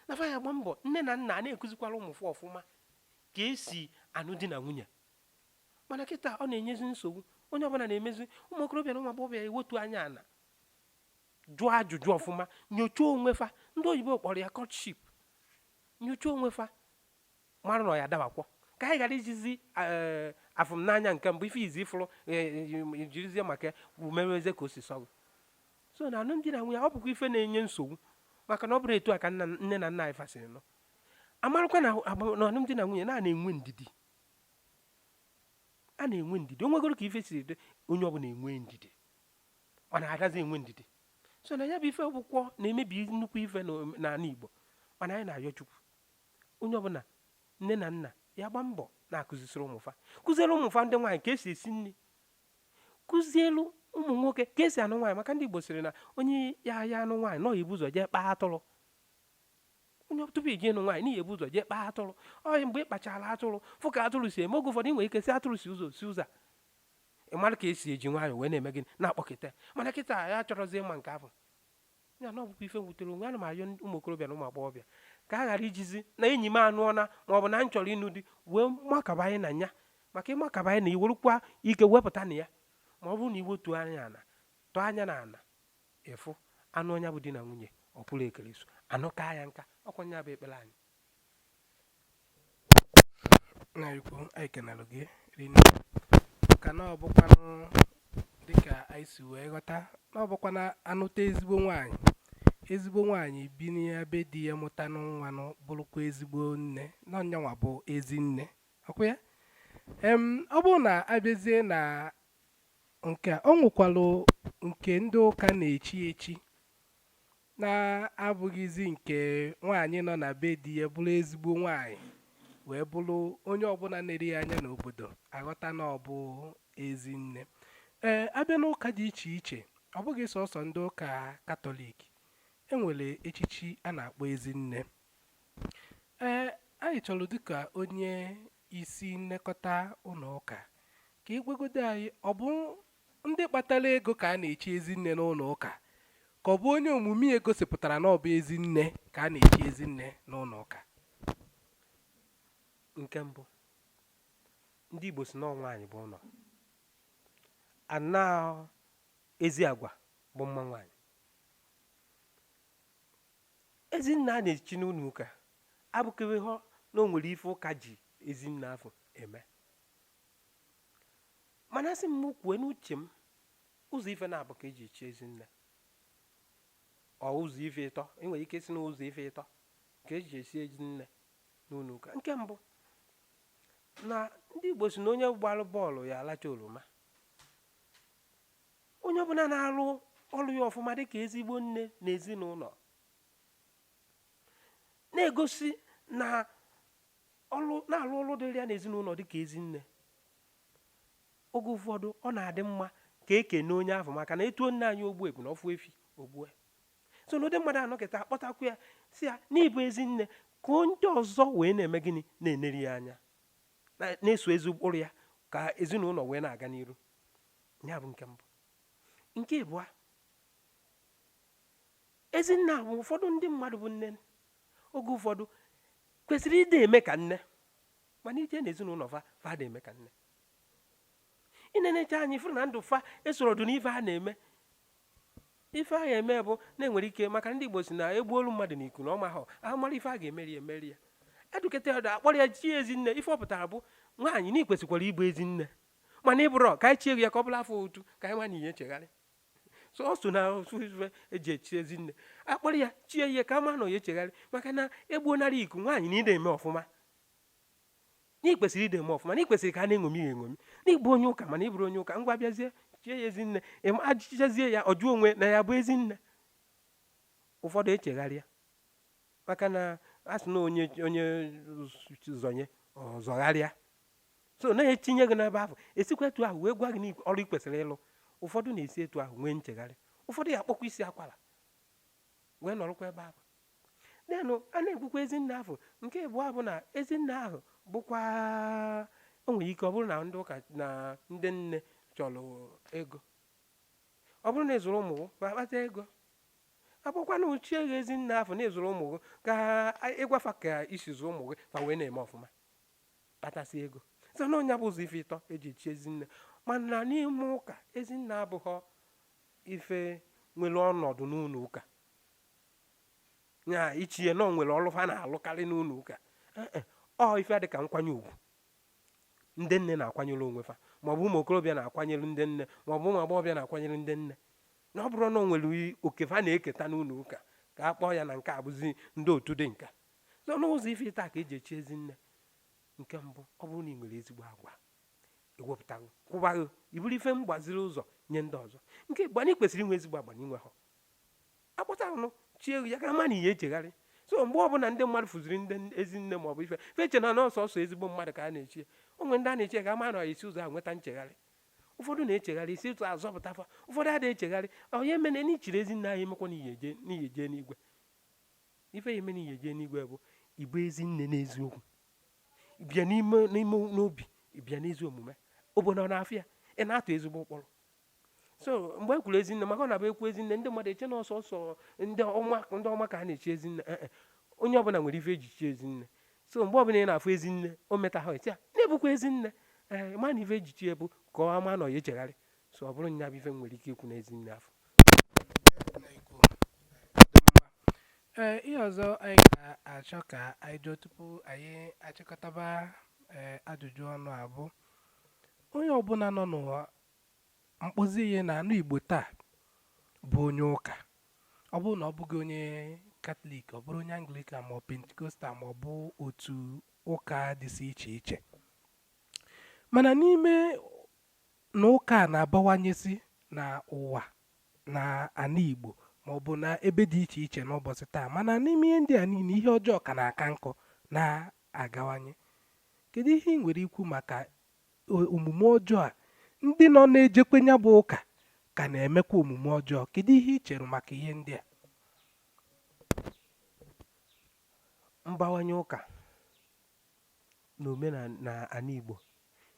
na fa ya gba mbọ nne na nna a na-ekuzikwara ụmụfa ọfụma ka esi anụ di na nwunye mana kịta ọ na-enyezi nsogbu onye ọbụla na-emezi ụmụ okorobịa na ụmụ agbọghọbịa ewetu anya ana jụọ ajụjụ ọfụma nyochaa onwe fa ndị oyibo kpọrọ ya courtship nyocha onwe fa mara na ọ ya dabakwọ ka anyị ghara ijizi eh, afụ m n'anya nke mbụ ife izi ị fụrụ eh, eh, jirizie maka umewezie ka o si sọ gụ so na anụmdi na nwunye ọ bụkwa ife na-enye nsogbu maka na ọ bụrọ etu a ka nne na nna anyị fa siri nụọ amarakwa na anụmdi na nwunye na a na-enwe ndidi a na-enwe ndidi o nwegoro ka ife siri dị onye ọbụla enwe ndidi mana adazi enwe ndidi so na ya bụ ife ọ bụkwọ na-emebi nnukwu ife n'ana Igbo mana anyị na-ayọ Chukwu onye ọbụla nne na nna ya gba mbọ na-akụzisiri ụmụfa kụziere ụmụfa ndị nwaanyị ka esi esi nri kụzielu ụmụ nwoke ka esi anụ nwaanyị maka ndị Igbo sịrị na onye ya ya anụ nwaanyị na ọ ya ebu ụzọ jee kpaa atụrụ onye tupu ị jee ịnụ nwaanyị na ị ya ebu ụzọ jee kpaa atụrụ ọ mgbe ị kpachara atụrụ fụ ka atụrụ si eme oge ụfọdụ ị nwere ike sị atụrụ si ụzọ si ụzọ ị mara ka esi eji nwayọọ wee na-eme gịnị na-akpọkọta mana kịta ya achọrọzi ịma nke ahụ ya na ọ bụkwa ife wutere onwe ana m ayọ ụmụ okorobịa na ụmụ agbọghọbịa ka a ghara ijizi na enyi m anụọna ma ọ bụ na m chọrọ ịnụ di wee makabanye na ya maka ị makabanye na i nwerọkwa ike wepụta na ya ma ọ bụrụ na i wetu anya ana tọọ anya na ana ị fụ anụọ nya bụ di na nwunye ọ pụrụ ekere so anụkaa ya nka ọ kwa nya bụ ekpere anyị
nna ukwu anyị kenelụ gị rinne ka na ọ bụkwanụ dịka anyị si wee ghọta na ọ bụkwa na anụta ezigbo nwaanyị ezigbo nwaanyị bi na be di ya mụta nụ nwa nụ bụrụkwa ezigbo nne na ọ nyanwa bụ ezi nne ọkwa ya em ọ bụrụ na abịazie na nke a, ọ nwekwalụ nke ndị ụka na-echi echi na-abụghịzi nke nwaanyị nọ na be di ya bụrụ ezigbo nwaanyị wee bụrụ onye ọbụla na-eneri ya anya n'obodo aghọta na ọ bụ ezi nne ee abịa n'ụka dị iche iche ọ bụghị sọsọ ndị ụka katọlik enwere echichi a na-akpọ ezi nne ee anyị chọrọ dịka onye isi nlekọta ụlọ ụka ka ị gwagodo anyị ọ bụ Ndị kpatara ego ka a na-echi ezi nne n'ụlọ ụka? Ka ọ bụ onye omume ya gosipụtara na ọ bụ ezi nne ka a na-echi ezi nne n'ụlọ ụka?
Nke mbụ, ndị Igbo sị na nwaanyị bụ ụlọ. Ana ezi agwa bụ mma nwaanyị. Ezi nne a na-echi n'ụlọ ụka abụkeghị hụ na o nwere ife ụka ji ezi nne afụ eme. mana asị m kwue n'uche m ụzọ ife naabụ ka eji echi ezi nne or ụzọ ife ịtọ enwere ike sị na ụzọ ife ịtọ ka eji echi ezi nne n'ụlọ ụka nke mbụ na ndị Igbo sị na onye gbalụ bọọlụ ya alacha oroma onye ọbụla na-alụ ọlụ ya ọfụma dịka ezigbo nne na ezinụlọ na-egosi na ọ na-alụ ọlụ dịrị ya n'ezinụlọ dị ka ezi nne oge ụfọdụ ọ na-adị mma ka e kene onye ahụ maka na etuo nne anyị ogbu ebunu ọ fụ efi o gbue so na ụdị mmadụ anọkata akpọtakwu ya sị ya na ị bụ ezi nne ka ndị ọzọ wee na-eme gịnị na-eneri ya anya na-eso ezi ụkpụrụ ya ka ezinụlọ wee na-aga n'iru ya bụ nke mbụ nke ịbụa ezi nne bụ ụfọdụ ndị mmadụ bụ nne oge ụfọdụ kwesịrị ịdị eme ka nne mana i je n'ezinụlọ fa adị eme ka nne i nenecha anya fụrụ na ndụ fa esoro ọdụ n'ife a na-eme ife ahụ eme bụ na enwere ike maka ndị Igbo sị na egbuolu mmadụ na iku na ọma ha ahụ mara ife a ga-emeri emeri ya edukata ọdụ akpọrọ ya chie ezi nne ife ọ pụtara bụ nwaanyị na i kwesịkwara ịbụ ezi nne mana ị bụrọ ka anyị chie ya ka ọ bụla afọ otu ka anyị nwa na ị ya-echegharị so ọ so na ife eji echi ezi nne akpọrọ ya chie ya ka a ma na ọ ya-echegharị maka na egbuonarị iku nwaanyị na ị na-eme ọfụma na ị kwesịrị ịdị eme ọfụma na ị kwesịrị ka a na-eṅomi ya eṅomi na ị bụ onye ụka mana ị bụrụ onye ụka ngwa bịazie chie ya ezi nne ajụchazie ya ọ jụọ onwe na ya bụ ezi nne ụfọdụ echegharịa maka na a sị na onye zọnye ọ zọgharịa so na e tinye gị n'ebe ahụ e sikwa etu ahụ wee gwa gị ọrụ ị kwesịrị ịlụ ụfọdụ na-esi etu ahụ nwee nchegharị ụfọdụ ya akpọkwa isi akwara wee nọrọkwa ebe ahụ denụ a na-ekwukwa ezinne ahụ nke ịbụa bụ na ezinne ahụ bụkwa o nwere ike ọ bụrụ na ndị ụka na ndị nne chọrọ ego ọ bụrụ na ị zụrụ ụmụ fa akpata ego a bịakwanụ chie gị ezinne afụ na ị zụrụ ụmụ gị ka ị gwa fa ka i si zụọ ụmụ gị fa wee na-eme ọfụma kpatasị ego so na ọ nya bụ ụzọ ife ịtọ eji echi ezinne mana n'ime ụka ezinne abụghọ ife nwere ọnọdụ n'ụlọ ụka ya ị chee na o nwere ọlụ fa na-alụkarị n'ụlọ ụka Eh, eh, ọ ife a dị ka nkwanye ugwu ndị nne na-akwanyere onwe fa maọbụ ụmụ okorobịa na-akwanyere ndị nne maọbụ ụmụ agbọghọbịa na-akwanyere ndị nne na ọ bụrụ na o nwere i- oke fa na-eketa n'ụlọ ụka ka a kpọọ ya na nke a bụzi ndị otu dị n'ụka so n'ụzọ ife ịtọ ka eji echi ezi nne nke mbụ ọ bụrụ na ị nwere ezigbo agwa e wepụta gị kwụba gị ị bụrụ ife mgbaziri ụzọ nye ndị ọzọ nke ịbụa na ị kwesịrị inwe ezigbo agwa na i nwehọ a kpọtanụ chie gị ya ka a ma na ị ya-echegharị so mgbe ọbụla ndị mmadụ fụziri ndị ezi nne ma ọ bụ ife fa eche na ọ sọsọ ezigbo mmadụ ka a na-echi ya o nwe ndị a na-echi ka a ma na e si ụzọ a nweta nchegharị ụfọdụ na-echegharị e si etu a zọpụta fa ụfọdụ adịghị echegharị ọ nya mere na i chiri ezi nne ayị emekwa na ị ya-eje n'igwe ife ya-eme na ị ya-eje n'igwe bụ ịbụ ezi nne n'eziokwu bịa n'ime n'obi bịa n'ezi omume obodo na-afụ ya ị na-atụ ezigbo ụkpụrụ so mgbe e kwuru ezinne maka ọ na-abụ e kwuo ezinne ndị mmadụ eche na ọ sọsọ ndị ọma ka a na-echi ezinne eh, eh. onye ọbụla nwere ife eji chi ezinne so mgbe ọbụla ị na-afụ ezinne o meta ha etia na-ebukwa ezinne ee eh, ma na ife eji chie ya bụ ka a ma na ọ ya-echegharị so ọ bụrụ nya bụ ife m nwere ike ikwu n'ezi nne afụ
ee ihe ọzọ anyị ga-achọ ka anyị jụọ tupu anyị achịkọtaba ee ajụjụ ọnụ a bụ onye ọbụla nọ n'ụwa mkpụzi ihe n'ana Igbo taa bụ onye ụka ọ bụrụ na ọ bụghị onye katọlik ọ bụrụ onye anglikan ma ọ pentikostal ma ọ bụ otu ụka dịsị iche iche mana n'ime na ụka a na-abawanyesi na ụwa na ana Igbo ma ọ bụ na ebe dị iche iche n'ụbọchị taa mana n'ime ihe ndị a niile ihe ọjọọ ka na-aka nkọ na-agawanye kedu ihe i nwere ikwu maka omume ọjọọ a ndị nọ na-ejekwe ya bụ ụka ka na-emekwa omume ọjọọ kedu ihe i chere maka ihe ndị a
mbawanye ụka na omenana ana Igbo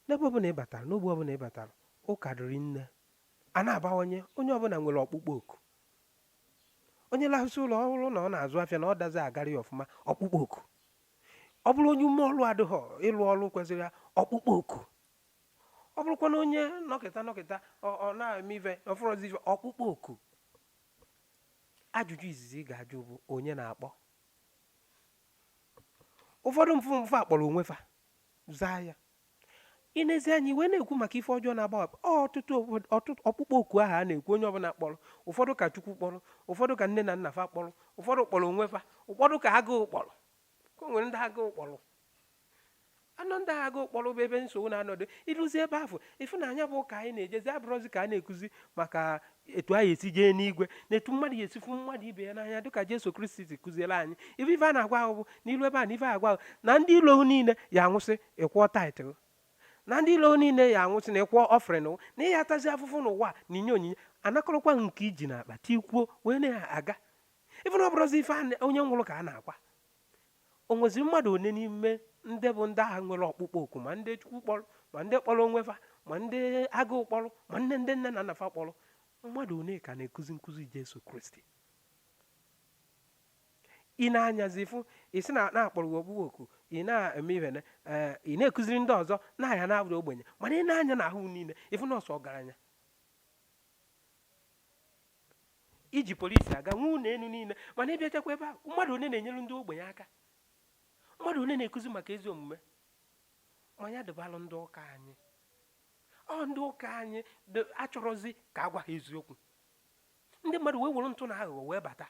n'ebe ọbụla ị batara n'ogbe ọbụla ị batara ụka dịrị nne a na-abawanye onye ọbụla nwere ọkpụkpọ oku onye lahụsị ụla ọ hụrụ na ọ na-azụ afịa na ọ dazi agara ya ọfụma ọkpụkpọ oku ọ bụrụ onye ume ọlụ adịghọ ịlụ ọlụ kwesịrị ya ọkpụkpọ oku ọ bụrụkwa na onye nọkịta nọkịta ọ na-eme ife ọ fụrọzi ife ọkpụkpọ oku ajụjụ izizi ị ga-ajụ bụ onye na-akpọ ụfọdụ bụ fa kpọrọ onwe fa zaa ya i nezie anyị wee na-ekwu maka ife ọjọọ na-agbawa ọtụtụ ọkpụkpọ oku ahụ a na-ekwu onye ọbụla kpọrọ ụfọdụ ka chukwu kpọrọ ụfọdụ ka nne na nna fa kpọrọ ụfọdụ kpọrọ onwe fa ụfọdụ ka agụụ kpọrọ o nwere ndị agụụ kpọrọ anọ ndị agụụ kpọrọ bụ ebe nsogbu na-anọdụ i luzie ebe afụ ị fụ na nya bụ ụka anyị na-ejezi abụrọzi ka a na-ekuzi maka etu anyị esi jee n'igwe na etu mmadụ ya-esi fụ mmadụ ibe ya n'anya dịka Jesu Kristi si kụziere anyị ife ife a na-agwa ahụ bụ na i lu ebe a na ife agwa ahụ na ndị ilo niile ya-anwụsị ị kwụọ tithe na ndị ilo niile ya-anwụsị na ị kwụọ offering na ị ya atazi afụfụ n'ụwa na i nye onyinye a nakọrọkwa nke i ji na akpa tikwuo wee na-aga ị fụ na ọ bụrọzi ife onye nwụrụ ka a na-akwa o nweziri mmadụ one n'ime ndị bụ ndị ahụ nwere ọkpụkpọ oku ma ndị chukwu kpọrọ ma ndị kpọrọ onwe fa ma ndị agụụ kpọrọ ma ndị ndị nne na nna fa kpọrọ mmadụ one ka na-ekuzi nkụzi Jesu Kristi ị na-anyazi fụ isi na a kpọrọ gị ọkpụkpọ oku ị na-eme ihe na eh, ị na-ekụziri ndị ọzọ na a ya na-abụrụ ogbenye mana i nee anya na ahụ niile ị fụ na ọ sọ ọgaranya i ji polisi aga nwee ụlọ elu niile mana ị bịachakwa ebe a mmadụ one na-enyere ndị ogbenye aka mmadụ one na-ekuzi maka ezi omume ma nya dịbalụ ndị ụka anyị ọ ndị ụka anyị achọrọzi ka a gwa ha eziokwu ndị mmadụ wee were ntụ na aghụghọ wee bata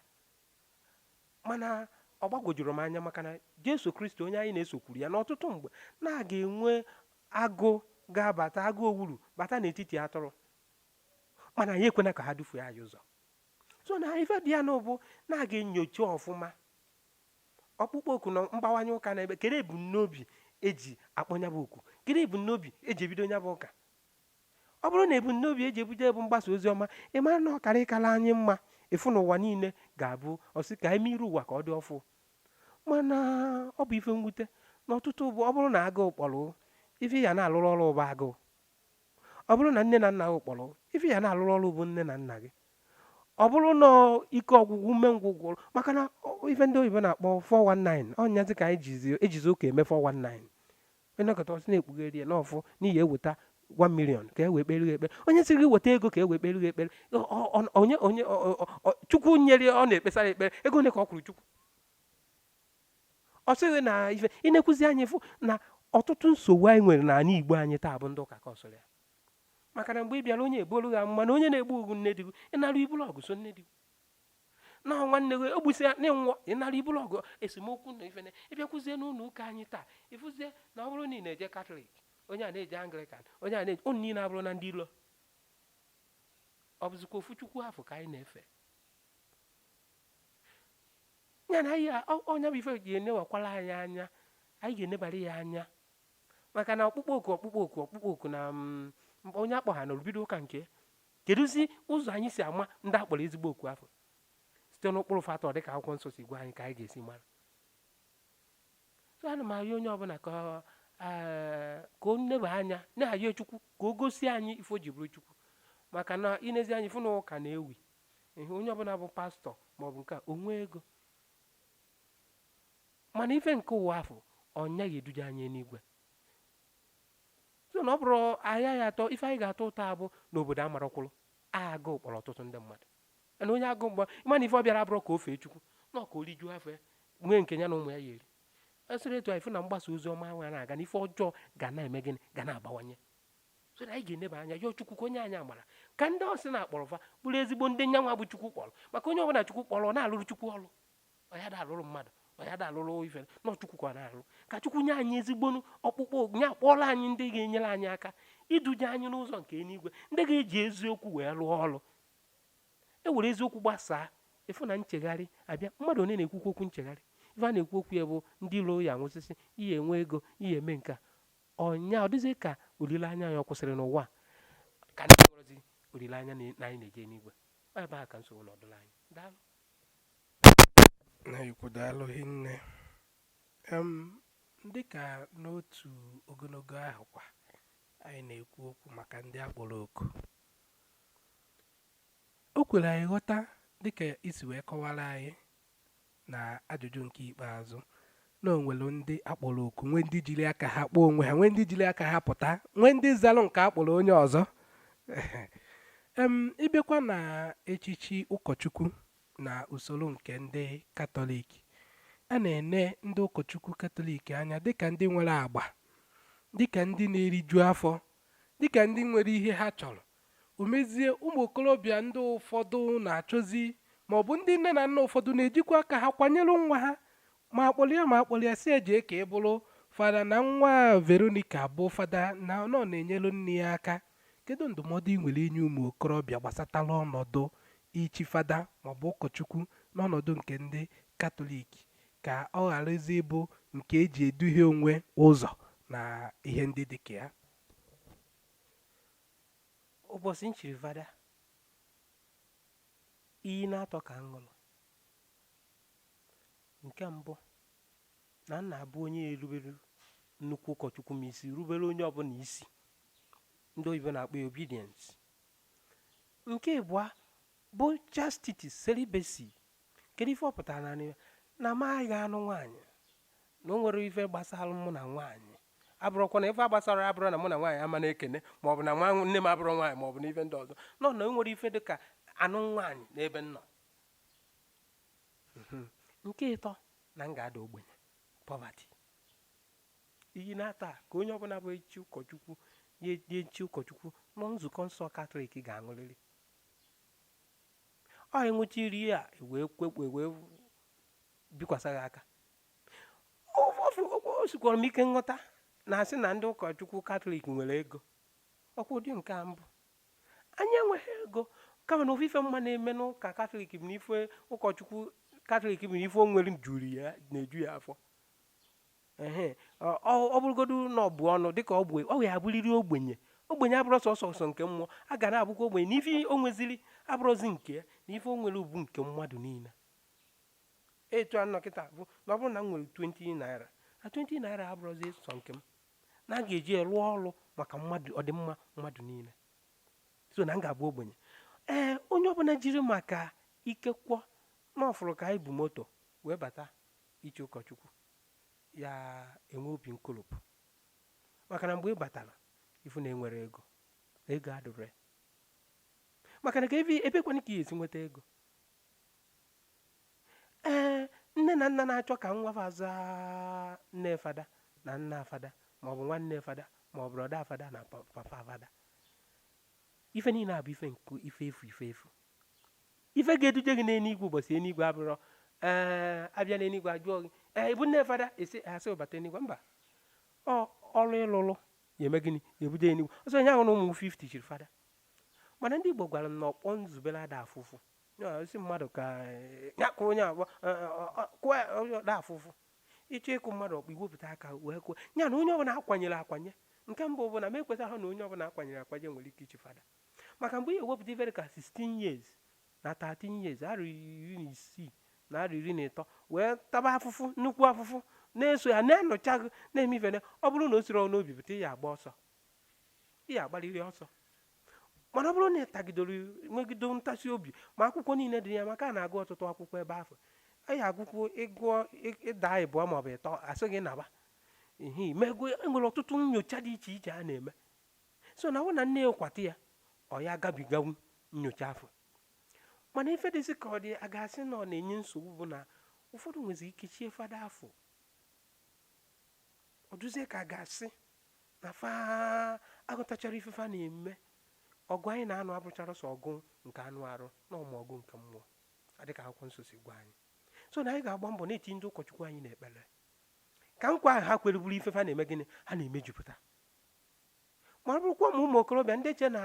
mana ọ gbagwojuru m anya maka na Jesu Kristi onye anyị na-eso kwuru ya n'ọtụtụ mgbe na a ga-enwe agụ ga-abata agụ owuru bata n'etiti atụrụ mana anyị ekwena ka ha dufue anyị ụzọ so na ife dị ya nụ bụ na a ga-enyocha ọfụma ọkpụkpọ oku na mgbawanye ụka na ebe kere ebumnobi e ji akpọ nya bụ oku kere ebumnobi e ji ebido nya bụ ụka ọ bụrụ na ebumnobi eji ebuje bụ mgbasa ozi ọma ị mara na ọ kara ịkala anyị mma ịfụ na ụwa niile ga-abụ a sị ka e mee iru ụwa ka ọ dị ọfụ mana ọ bụ ife mwute na ọtụtụ bụ ọ bụrụ na agụụ kpọrọ ife ya na-alụrụ ọrụ bụ agụụ ọ bụrụ na nne na nna gị kpọrọ ife ya na-alụrụ ọrụ bụ nne na nna gị ọ bụrụ na ike ọgwụgwụ umengwụ maka na ife ndị oyibo na-akpọ 419 ọ nyazi ka anyị ejizi ụka eme 419 i nekata ọ sị na e kpughere ya n'ọfụ na ị ya-eweta 1 million ka e wee kpere ekpere onye sị gị weta ego ka e wee kpere gị ekpere onye onye chukwu nyere ọ na-ekpesara ekpere ego ole ka ọ kwụrụ chukwu ọ sịghị na ife i nekwuzi anya ị fụ na ọtụtụ nsogbu anyị nwere n'ala igbo anyị taa bụ ndị ụka causiri ya maka na mgbe ị bịara onye ebuolu gị amụma na onye na-egbu gị bụ nne di gị ị naru i bulu ọgụ so nne di gị na nwanne gị egbusi ya na-enwụọ ị naru i buru ọgụ esemokwu na ife na ị bịakwuzie n'ụlọ ụka anyị taa ị fụzie na ọ bụrụ na ị na-eje katọlik onye a na-eje anglikan onye a na-eje unu niile abụrụna ndị ilo ọ bụzikwa ofu chukwu afụ ka anyị na-efe ya na ya ọ nya bụ ife ga-enewakwala anyị anya anyị ga-enebara ya anya maka na ọkpụkpọ oku ọkpụkpọ oku ọkpụkpọ oku na mm, onye akpọ ha na o bido ụka nke kedụzi ụzọ anyị si ama ndị akpọrọ ezigbo oku afụ site n'ụkpụrụ fa tọ dịka akwụkwọ nsọ si gwa anyị ka anyị ga-esi mara so ana m arịọ onye ọbụla ka eh, ka o neba anya na-arịọ chukwu ka o gosi anyị ife o ji bụrụ chukwu maka na i nezi anya ị fụ na ụka na-ewu ihe onye ọbụla bụ pastọ maọbụ nke a o nwee ego mana ife nke ụwa afụ ọ yaghị eduje anyị n'igwe so na ọ bụrụ ahịa ya atọ ife anyị ga-ata ụta bụ na obodo amarọkwụlụ agụụ kpọrọ ọtụtụ ndị mmadụ na onye agụụ mgba ị ma na ife ọ bịara abụrọ ka o fee chukwu na ọ ka o rijuo afọ ya nwee nke ya na ụmụ ya ya eri esịrị etu anyị fụ na mgbasa ozi ọma ahụ na-aga na ife ọjọọ ga na-eme gịnị ga na-abawanye so na anyị ga-eneba anya yọọ chukwu ka o nye anyị amara ka ndị sị na akpọrọ fa bụrụ ezigbo ndị nyanwa bụ chukwu kpọrọ maka onye ọbụla chukwu kpọrọ ọ na-alụrụ chukwu ọrụ ọ ya da alụrụ mmadụ ọ ya da alụrụ ife na ọ chukwu ka ọ na-alụ ka chukwu nye anyị ezigbo ọkpụkpọ nya kpọọlụ anyị ndị ga-enyere anyị aka iduje anyị n'ụzọ nke eluigwe ndị ga-eji eziokwu wee lụọ ọrụ e were eziokwu gbasaa ị fụ na nchegharị abịa mmadụ onye na-ekwukwu okwu nchegharị ife a na-ekwu okwu ya bụ ndị ilo ya-anwụsịsị ị ya-enwe ego ị ya-eme nke a ọ nya ọ dịzị ka olileanya ya ọ kwụsịrị n'ụwa ka ndị nwere olileanya na anyị na-eje n'igwe ebe a ka nsogbu nọdụla anyị daalụ
nna anyị ukwu daalụ hinne em dịka n'otu ogologo ahụ kwa anyị na-ekwu okwu maka ndị akpọrọ oku o kwere anyị ghọta dịka i si wee kọwara anyị na ajụjụ nke ikpeazụ na o nwere ndị a kpọrọ oku nwee ndị jiri aka ha kpọọ onwe ha nwee ndị jiri aka ha pụta nwee ndị zalụ nke a kpọrọ onye ọzọ em ị bịakwa na echichi ụkọchukwu na usoro nke ndị katọlik a na-ene ndị ụkọchukwu katọlik anya dịka ndị nwere agba dịka ndị na-eriju afọ dịka ndị nwere ihe ha chọrọ o mezie ụmụ okorobịa ndị ụfọdụ na-achọzi ma ọ bụ ndị nne na nna ụfọdụ na-ejikwa aka ha kwanyere nwa ha Ma a kpọlụ ya ma a kpọlụ ya sị ya je ka ị bụrụ fada na nwa Veronica bụ fada na ọ na-enyelu nne ya aka. Kedu ndụmọdụ ị nwere inye ụmụ okorobịa gbasatara ọnọdụ ichi fada maọbụ ụkọchukwu n'ọnọdụ nke ndị Katọlik ka ọ gharazi ịbụ nke e ji eduhie onwe ụzọ na ihe ndị dị ka
ya? Ụbọchị m chiri fada, iyi na-atọ ka m ṅụrụ. Nke mbụ, na m na-abụ onye erubere nnukwu ụkọchukwu m isi, rubere onye ọbụla isi. Ndị oyibo na-akpọ ya obedience. Nke ịbụa bụ chastity, celibacy. Kedu ife ọ pụtara na anyị na m agaghị anụ nwaanyị na o nwerọ ife gbasara mụ na nwaanyị abụrọkwa na ife a gbasara abụrọ na mụ na nwaanyị ama na-ekene ma ọ bụ na nne m abụrọ nwaanyị ma ọ bụ na ife ndị ọzọ na o nwerọ ife dị ka anụ nwaanyị n'ebe m nọ Mhm. nke ịtọ na m ga-ada ogbenye poverty iyi na-atọ a ka onye ọbụla bụ echi ụkọchukwu ya-echi ụkọchukwu na nzukọ nsọ katọlik ga-aṅụrịrị ọ ị ṅụchaa iyi a wee kwekwe wee bikwasa gị aka o sikwara m ike nghọta na a sị na ndị ụkọchukwu katọlik nwere ego ọ kwa ụdị nke a m bụ anyị enweghị ego kama na ofu ife m ma na-eme n'ụka katọlik bụ n'ife ụkọchukwu katọlik bụ na ife o nwere juru ya na-eju ya afọ ehe ọ bụrụgodu na ọ bụ ọnụ dịka ọ bụ ọ ya abụrịrị ogbenye ogbenye abụrọ sọsọ sọ nke mmụọ ọ ga na-abụkwa ogbenye na ife o nweziri abụrọzi nke ya na ife o nwere bụ nke mmadụ niile etu a nọ kịta bụ na ọ bụrụ na m nwere 20 naira na 20 naira abụrọzi sọ nke m na a ga-eji ya rụọ ọrụ maka mmadụ ọdịmma mmadụ niile so na m ga-abụ ogbenye ee onye ọbụla jiri maka ikekwe na ọ fụrụ ka anyị bu moto wee bata ichi ụkọchukwu ya enwe obi nkolopụ maka na mgbe ị batara ị fụ na enwerọ ego na ego adịrọ ya maka na ka ebe ebekwanụ ka ị ya-esi nweta ego ee nne na nna na-achọ ka nwa fa zaa nne fada na nna fada ma ọ bụ nwanne fada ma ọ bụ brọda fada na pa- papa fada ife niile a bụ ife nke ife efu ife efu ife ga-eduje gị n'eluigwe ụbọchị eluigwe abụrọ ee a bịa n'eluigwe a jụọ gị ee ị bụ nne fada esi a sị ị bata eluigwe mba ọ ọlụ ị lụlụ ya-eme gịnị ya-ebuje eluigwe ọ sọ onye ahụ na ụmụ 50 chiri fada mana ndị Igbo gwara m na ọkpọ nzubere ada afụ ụfụ Ya, ị sị mmadụ ka eh, ya kụọ onye ọkpọ eh, eh, ọ- ọ- kụọ ya, onye ọ da afụ ụfụ ị chọọ ịkụ mmadụ ọkpọ i wepụta aka wee kụọ ya na onye ọbụla a kwanyere akwanye nke mbụ bụ na m ekwetaghị na onye ọbụla a kwanyere akwanye nwere ike ichi fada maka mgbe ị ya-ewepụta ife ra ka 16 years na 13 years arọ iri na isii na arọ iri na ịtọ wee taba afụfụ nnukwu afụfụ na-eso ya na-enyocha gị na-eme ife na ọ bụrụ na o sirọ n'obi pụta ya agba ọsọ ya-agbarịrị ọsọ mana ọ bụrụ na ị tagidoro nwegide ntasi obi ma akwụkwọ niile dị ya maka a na-agụ ọtụtụ akwụkwọ ebe afụ anyị agụkwụ ị gụọ ị daa ịbụọ maọbụ ịtọ a sị gị naba ihe imego e nwere ọtụtụ nyocha dị iche iche a na-eme so na ọ bụ na nne ya kwata ya ọ ya agabigawu nyocha afụ mana ife dịzi ka ọ dị a ga-asị na ọ na-enye nsogbu bụ na ụfọdụ nwezi ike chie fada afụ ọ dụzie ka a ga-asị na fa aghọtacharọ ife fa na-eme ọgụ anyị na-anụ abụcharọ sọ ọgụ nke anụ arụ na ọ bụ ọgụ nke mmụọ dịka akwụkwọ nsọ si gwa anyị so na anyị ga-agba mbọ na-etinye ndị ụkọchukwu anyị n'ekpere ka nkwa ahụ ha kwere bụrụ ife fa na-eme gịnị ha na-emejupụta ma ọ bụrụkwa ụmụ ụmụ okorobịa ndị che na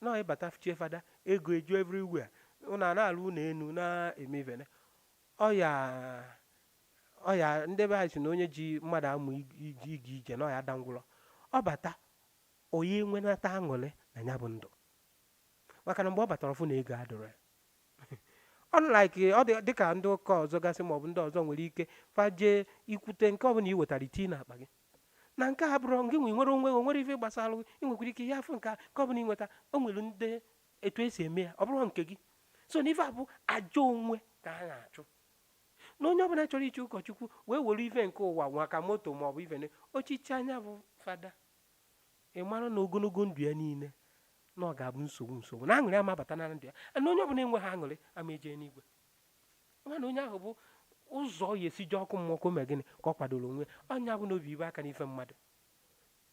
na ị bata chie fada ego eju everywhere ụnụ a na-alụ ụlọ enu na-eme ive nine ọ ya ọ ya ndị be anyị si na onye ji mmadụ amụ ig- ig- ịga ije na ọ ya-ada ngwụrọ ọ bata ọ ya enwenata aṅụrị na ya bụ ndụ maka na mgbe ọ batara ọ fụ na ego adịrọ ya unlike ọ dị dịka ndị ụka ọzọ gasị maọbụ ndị ọzọ nwere ike faje ikwute nke ọbụla i wetara i tinye n'akpa gị na nke a abụrọ ngị nwe nwere onwe gị, o nwere ife gbasara gị ị nwekwara ike ị ya-afụ nke a nke ọbụla ị nweta o nwere ndị etu esi eme ya ọ bụrọ nke gị so na ife a bụ àjà onwe ka a na-achụ na onye ọbụla chọrọ ichi ụkọchukwu wee were ife nke ụwa nwa ka moto ma ọ bụ ife o ji chie ya bụ fada ị mara na ogologo ndụ ya niile na ọ ga-abụ nsogbu nsogbu na aṅụrị ama abata na ndụ ya na onye ọbụla enweghị aṅụrị ama eje n'igwe mana onye ahụ bụ ụzọ ọ ya-esi je ọkụ mmụọ ka o mee gịnị ka ọ kwadoro onwe ọ ya bụ na obi ibe aka n'ife mmadụ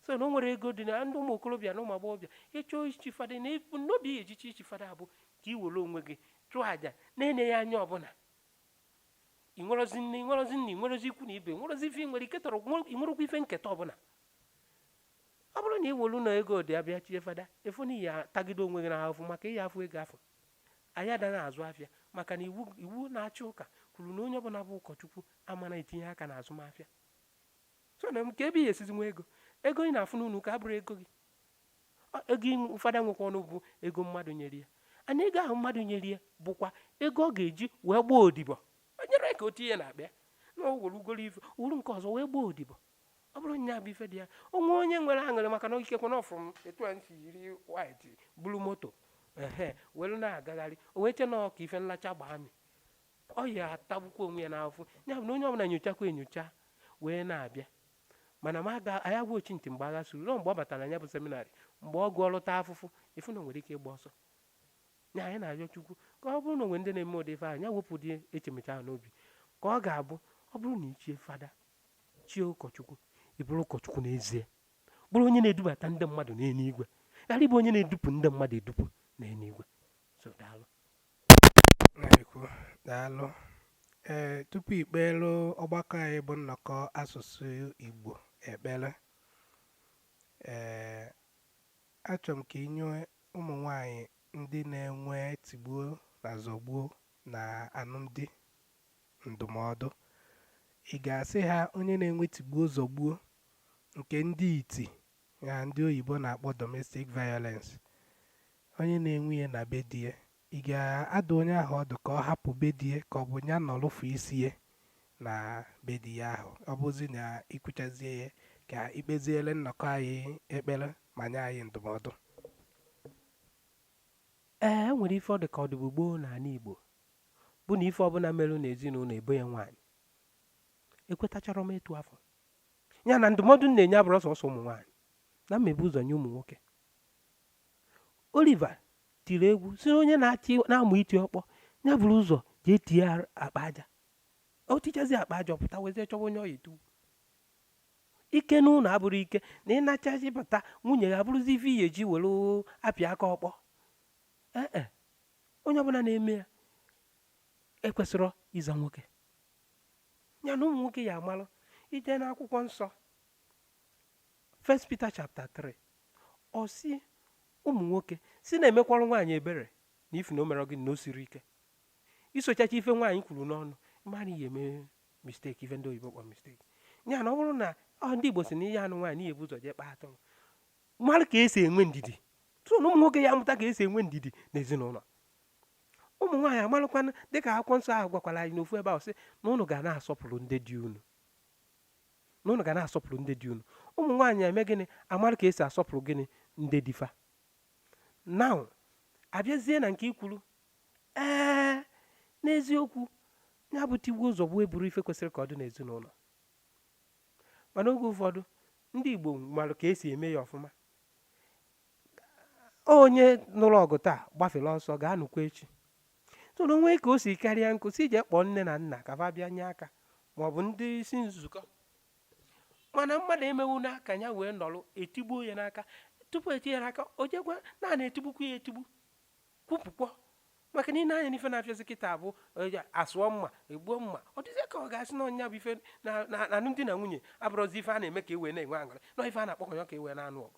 so na o nwere ego dị na ndị ụmụ okorobịa na ụmụ agbọghọbịa ị chọọ ichi fada na n'obi ya-eji echi fada bụ ka i were onwe gị chụọ àjà na-eneghị anya ọbụla ị nwerozi nne ị nwerozi nna ị nwerozi ikwu na ibe nwerozi ife ị nwere ike tọrọ ị nwerokwa ife nketa ọbụla ọ bụrụ na ị were na ego dị ya bịa chie fada ị fụ na ị ya-atagide onwe gị n'ahụfụ maka ị ya-afụ ego afọ anyị adaghị azụ afịa maka na iwu na-achị ụka kwuru na onye ọbụla bụ ụkọchukwu ama na-etinye aka na azụmahịa so na kee ebe ị ya-esizi nwee ego ego ị na-afụ n'ụlọ ụka abụrọ ego gị Ego fada nwekwanụ bụ ego mmadụ nyere ya mana ego ahụ mmadụ nyere ya bụkwa ego ọ ga-eji wee gbaa odibo o nyerọ ya ka o tinye ya n'akpa ya na o were ugoro ife wuru nke ọzọ wee gbaa odibo ọ bụrụ nya bụ ife dị ya o nwee onye nwere aṅụrị maka na ikekwe na ọ fụrụ etu anyị si yiri white buru moto ehe were na-agagharị o wee chee na ọ ka ife nlacha gbaa mi ọ ya-atagbukwa onwe ya n'afụfụ ya bụ na onye ọbụla nyochakwa enyocha wee na-abịa mana anaghị agwa ochintị mgbe agha suru ruo mgbe ọ batara na ya bụ seminarị mgbe ọ gụọ lụta afụfụ ị fụ na o nwere ike ịgba ọsọ ya anyị na-arịọ chukwu ka ọ bụrụ na o nwee ndị na-eme ụdị ife ahụ ya wepụ ụdị echemeche ahụ n'obi ka ọ ga-abụ ọ bụrụ na i chie fada chie ụkọchukwu ị bụrụ ụkọchukwu n'ezie bụrụ onye na-edubata ndị mmadụ n'eluigwe ghara ịbụ onye na-edupụ ndị mmadụ edupụ n'eluigwe so daalụ
na-ekwu daalụ ee tupu i kpeelu ọgbakọ anyị bụ nnọkọ asụsụ igbo ekpere ee achọrọ m ka i nye ụmụ nwanyị ndị na-enwe tigbuo na zọgbuo na alụmdi ndụmọdụ ị ga-asị ha onye na-enwe tigbuo zọgbuo nke ndị iti na ndị oyibo na-akpọ domestic violence Onye na-enwe ihe na be di ya, i ga-adụ onye ahụ ọdụ ka ọ hapụ be di ya ka ọ bụ ya nọrụfu isi ya na be di ya ahụ? Ọ bụzi na i kwuchazie ya, ka i kpeziere nnọkọ anyị ekpere ma nye anyị ndụmọdụ.
Ee, e nwere ife ọ dị ka ọ dịbu gboo n'ala Igbo bụ na ife ọbụla merụ n'ezinụlọ e bo ya nwaanyị. Ekwetacharọ m etu afọ. Ya na ndụmọdụ m na-enye abụrọ sọsọ ụmụ nwaanyị na m ya-ebu ụzọ nye ụmụ nwoke. Oliver tiri egwu sị na onye na-amụ iti ọkpọ ya buru ụzọ jee tie akpa aja o tichazi akpa aja ọ pụta wezie chọwa onye ọ ya-etiwe ike n'ụlọ abụrọ ike na ị nachazi bata nwunye ya abụrụzi ife ị ya-eji were apịa aka ọkpọ ee e, onye ọbụla na-eme ya ekwesịrọ ịza nwoke ya na ụmụ nwoke ya-amalụ i jee n'akwụkwọ nsọ First Peter chapter 3 ọ sị ụmụ nwoke sị na-emekwara nwaanyị ebere na ifu na o mere gịnị na o siri ike isochacha ife nwaanyị kwuru n'ọnụ mana ị ya-eme mistake ife ndị oyibo kpọrọ mistake ya na ọ bụrụ na ọ ndị Igbo sị na ị ya-anụ nwaanyị na ị ya-ebu ụzọ jee kpaa atụrụ mara ka esi enwe ndidi tụrụ na ụmụ nwoke ya amụta ka esi enwe ndidi n'ezinụlọ ụmụ nwaanyị amalụkwana dịka akwụkwọ nsọ ahụ gwakwara anyị n'ofu ebe ahụ sị na unu ga na-asọpụrụ ndị di unu na unu ga na-asọpụrụ ndị di unu ụmụ nwaanyị eme gịnị amara ka esi asọpụrụ gịnị ndị di fa now abịazie na nke i kwuru ee n'eziokwu ya bụ tigbuo zọgbuo abụrọ ife kwesịrị ka ọ dị n'ezinụlọ mana oge ụfọdụ ndị Igbo mara ka esi eme ya ọfụma onye nụrụ ọgụ taa gbafụrụ ọsọ ga-anụkwa echi so na o nwee ka o si karịa ọ kwụsị jee kpọọ nne na nna ka fa bịa nye aka ma ọ bụ ndị isi nzukọ mana mmadụ emewu n'aka ya wee nọrọ etigbuo ya n'aka tupu eti ya n'aka o jekwa n'anị etigbukwu ya etigbu kwupụkpọ maka na i nee anya n'ife na-afịazi kịta abụ eh, a sụọ mma e gbuo mma ọ dịzie ka ọ ga-asị na ọ nya bụ ife na na- na alụmdi na nwunye abụrọzi ife a na-eme ka e wee na-enwe aṅụrị na ife a na-akpọkọ ya ka e wee na-anụ ọgụ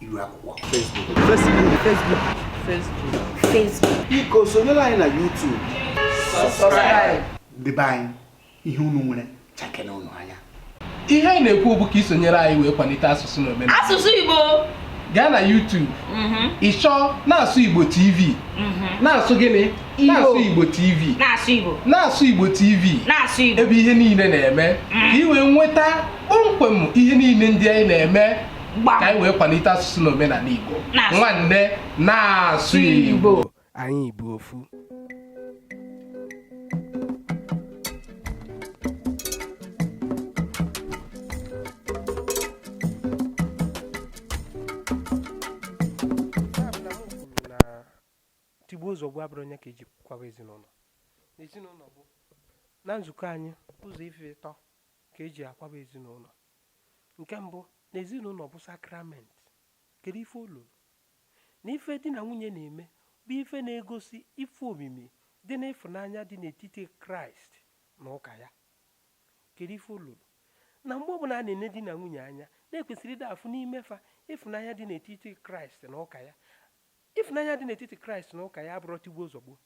iru akwụkwọ
Facebook
Facebook Facebook Facebook biko
sonyere anyị na YouTube ndị be anyị
ihe unu nwere chakere unu anya ihe anyị na-ekwu
bụ ka i sonyere anyị wee kwalite asụsụ na omenala asụsụ Igbo
gaa na
YouTube mhm. ị chọọ na-asụ Igbo TV mhm. na-asụ gịnị na-asụ Igbo TV na-asụ Igbo na-asụ
Igbo TV
na-asụ Igbo ebe ihe
niile na-eme
mm. ka i wee nweta kpọmkwem ihe niile ndị anyị na-eme ka anyị wee kwalite asụsụ na omenala Igbo nwanne na-asụ Igbo anyị bụ
ofu tigbuo zọgbuo abụrọ nya ka eji kwaba ezinụlọ ezinụlọ bụ na nzukọ anyị ụzọ ife ịtọ ka eji akwaba ezinụlọ nke mbụ na ezinụlọ bụ sakrament kedu ife o luru na ife di na nwunye na-eme bụ ife na-egosi ife omimi dị n'ịfụnanya dị n'etiti kraịst na ụka ya kedu ife o luru na mgbe ọbụla a na-ene di na nwunye anya na e kwesịrị ịda afụ n'ime fa ịfụnanya dị n'etiti kraịst na ụka ya ịfụnanya dị n'etiti kraịst na ụka ya abụrọ tigbuo zọgbuo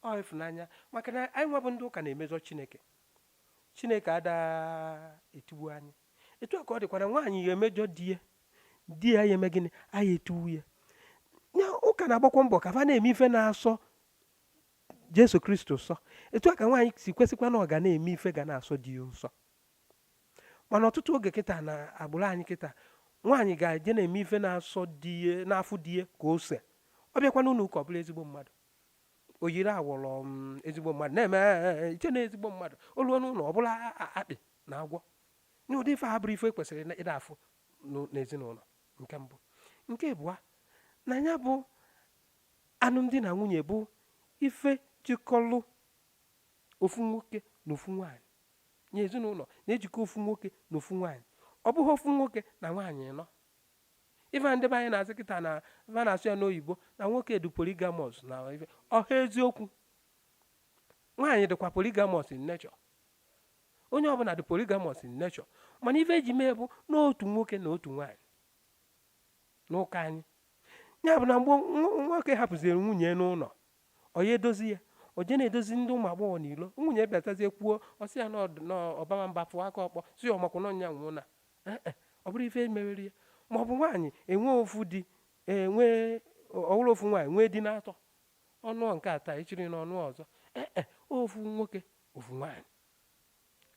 ọ ịfụnanya maka na anyị nwa bụ ndị ụka na-emezọ chineke chineke ada etigbu anyị etu a ka ọ dịkwa na nwaanyị ya emejọ di ya di ya ya eme gịnị anyị etigbu ya ya ụka na-agbakwa mbọ ka fa na-eme ife na-asọ jesu kristo ụsọ etu a ka nwaanyị si kwesịkwa na ọ ga na-eme ife ga na-asọ di ya ụsọ mana ọtụtụ oge kịta na agbụrụ anyị kịta nwaanyị ga-eje na-eme ife na-asọ di ya na-afụ di ya ka ose ọ bịakwa n'ụlọ ụka ọ bụlụ ezigbo mmadụ o yiri awọrọ ezigbo mmadụ na-eme "Eh, i chee na ezigbo mmadụ o lue n'ụlọ ọ bụlụ a- a- akpị na agwọ na ụdị ife a abụrọ ife kwesịrị na- ịda afụ n'ụ- n'ezinụlọ nke mbụ nke abụọ na ya bụ alụmdi na nwunye bụ ife jikọlụ ofu nwoke na ofu nwaanyị nya ezinụlọ na-ejikọ ofu nwoke na ofu nwaanyị ọ bụghị ofu nwoke na nwaanyị ịnọ Ife a ndị be anyị na-asị kịta na va na-asụ ya n'oyibo na nwoke dị polygamous na ife ọha eziokwu nwaanyị dịkwa polygamous in nature onye ọbụla dị polygamous in nature mana ife e ji mee bụ na otu nwoke na otu nwaanyị n'ụka anyị ya bụ na mgbe nwa- nwoke hapụziri nwunye n'ụlọ ọ ya edozi ya o je na-edozi ndị ụmụ agbọghọ n'ilo nwunye bịatazie kwuo ọ sị ya na ọd- na ọ bama mba fụọ aka ọkpọ si ọmakwụna ọnya nwụọ na ee e, ọ bụrọ ife e mewere ya ma ọ bụ nwaanyị enwe ofu di enwe ọwụrụ ofu nwaanyị nwee di atọ ọ nụọ nke a taa echi niile ọ nụọ ọzọ ee e, ofu nwoke ofu nwaanyị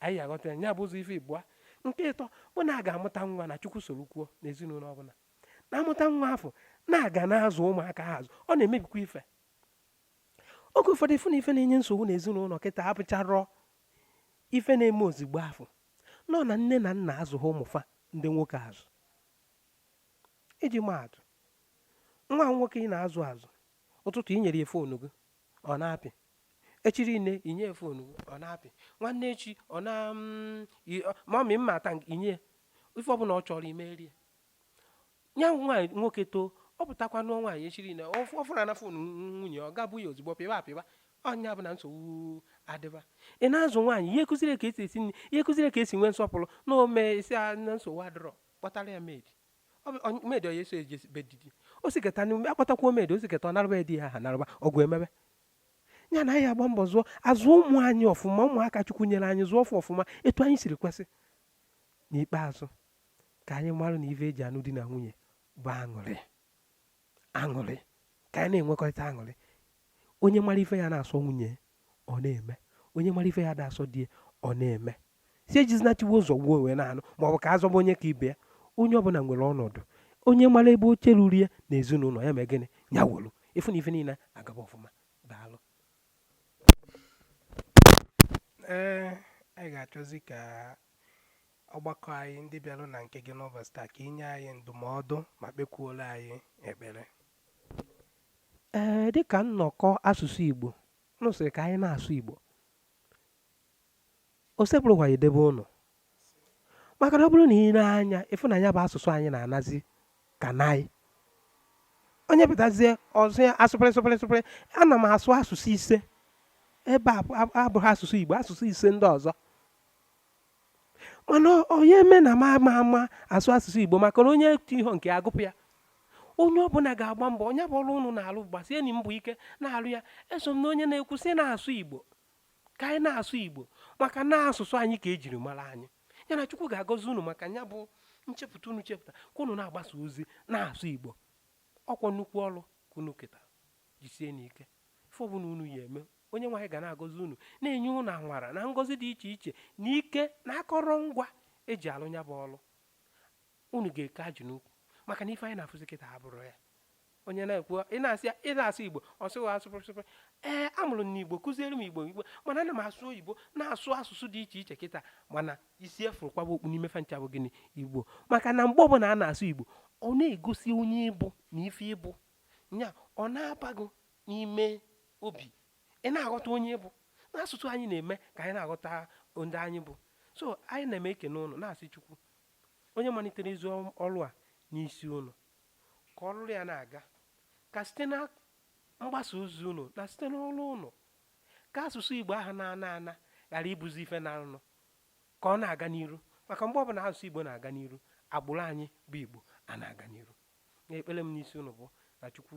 anyị aghọta ya bụ ụzọ ife ịbụa nke ịtọ bụ na a ga-amụta nwa na chukwu soro kwuo n'ezinụlọ ọbụla na-amụta nwa a fụ na a ga na-azụ ụmụaka ha azụ ọ na-emebikwa ife oge ụfọdụ ife na ife na-enye nsogbu n'ezinụlọ kịta abụcharọ ife na-eme ozigbo afụ na ọ na nne na nna azụghị ụmụ fa ndị nwoke azụ iji maa atụ nwa nwoke ị na-azụ azụ ụtụtụ i nyere ya foonu gị ọ na-apị echi niile i nye ya foonu gị ọ na-apị nwanne echi ọ na mm, mommy mma ata i nye ya ife ọbụla ọ chọrọ i meere ya ya nwa nwoke too ọ pụtakwa nụọ nwaanyị echi niile ọ fụ- ọ fụrụ na phone nwunye ọ gabụ ya ozugbo pịba apịba ọ nya bụ na nsogbu adịba ị na-azụ nwaanyị ị ya akụziri ka e si esi nri ị ya akụziri ka e si enwe nsọpụrụ na o mee ị sị ya na nsogbu adịrọ kpọtara ya maid Ọ bụ- ọ- maid ọ ya eso eje be di di o siketa n'ime akpọtakwuo maid o siketa ọ narụba ya di ya ha narụba ọgụ emebe ya na anyị agba mbọ zụọ azụ ụmụ anyị ọfụma ụmụaka chukwu nyere anyị zụọ fa ọfụma etu anyị siri kwesị N'ikpeazụ, ka anyị marụ na ife e ji anụ di na nwunye bụ aṅụrị. Aṅụrị. Ka anyị na-enwekọrịta aṅụrị. Onye mara ife ya na-asọ nwunye ọ na-eme. Onye mara ife ya da asọ di ọ na-eme. Sị ejizina tigbuo zọgbuo wee na-anụ ma ọ bụ ka azọba onye ka ibe ya. Onye ọbụla nwere ọnọdụ. Onye mara ebe oche ruru ya na ezinụlọ ya mee gịnị? Ya wolu. Ị
fụ na ife niile agaba ọfụma. Daalụ.
ee anyị ga-achọzi ka ọgbakọ anyị ndị bịara na nke gị n'ụbọchị taa ka i nye anyị ndụmọdụ ma kpekwuola anyị ekpere
ee dịka nnọkọ asụsụ igbo nụ sịrị ka anyị na-asụ igbo osebụrụwa ya-edebe ụnụ maka na ọ bụrụ na i lee anya ị fụ na ya bụ asụsụ anyị na-anazi ka naị onye pụtazie ọ sụọ ya sụpịrị sụpịrị sụpịrị ana m asụ asụsụ ise ebe a abụghị asụsụ Igbo asụsụ ise ndị ọzọ mana onye eme na m ama ama asụ asụsụ Igbo maka na onye etu ihe nke agụpụ ya onye ọbụla ga-agba mbọ nya bụ ọrụ ụnụ na-alụ gbasienụ mbọ ike na-alụ ya eso m na onye na-ekwu sị na-asụ Igbo ka anyị na-asụ igbo maka na asụsụ anyị ka ejiri mara anyị ya na chukwu ga-agọzi unu maka ya bụ nchepụta unu chepụta ka unu na-agbasa ozi na-asụ igbo ọkwa nnukwu ọrụ ka unu keta jisienụ ike ife ọbụla unu ya-eme onyenweanyị ga na-agọzi unu na-enye unu amara na ngọzi dị iche iche na ike na akọrọngwa eji alụ ya bụ ọrụ unu ga-eke ajị n'ukwu maka na ife anyị na-afụzi kịta abụrọ ya onye na-ekwu ị na-asị ị na-asụ igbo ọ sị gị sụpịrịpịrị ee amụrụ m n'igbo kụziere m igbo igbo mana ana m asụ oyibo na-asụ asụsụ dị iche iche kịta mana isi a fụrụ kwaba okpu n'ime fa ncha bụ gịnị igbo maka na mgbe ọbụla a na-asụ igbo ọ na-egosi onye ị bụ na ife ị bụ nya ọ na-abago n'ime obi ị na-aghọta onye ị bụ na asụsụ anyị na-eme ka anyị na-aghọta ndị anyị bụ so anyị na-eme ekene ụnụ na-asị chukwu onye malitere ezi ọrụ a n'isi ụnụ ka ọ lụlụ ya na-aga ka site na mgbasa ozi ụnụ na site n'ọlụ ụnụ ka asụsụ Igbo ahụ na-ana ana ghara ịbụzi ife na-ana ka ọ na-aga n'iru maka mgbe ọbụla asụsụ Igbo na-aga n'iru agbụrụ anyị bụ Igbo a na-aga n'iru na ekpere m n'isi ụnụ bụ na Chukwu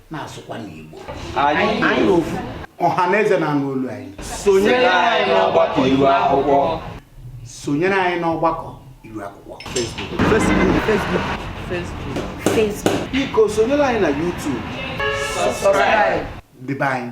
na-asụkwa n'Igbo anyị
ofu ọha na eze na-anụ
olu anyị sonyere anyị
n'ọgbakọ iru akwụkwọ sonyere
anyị n'ọgbakọ iru akwụkwọ Facebook
Facebook biko sonyere
anyị na YouTube subscribe
debe anyị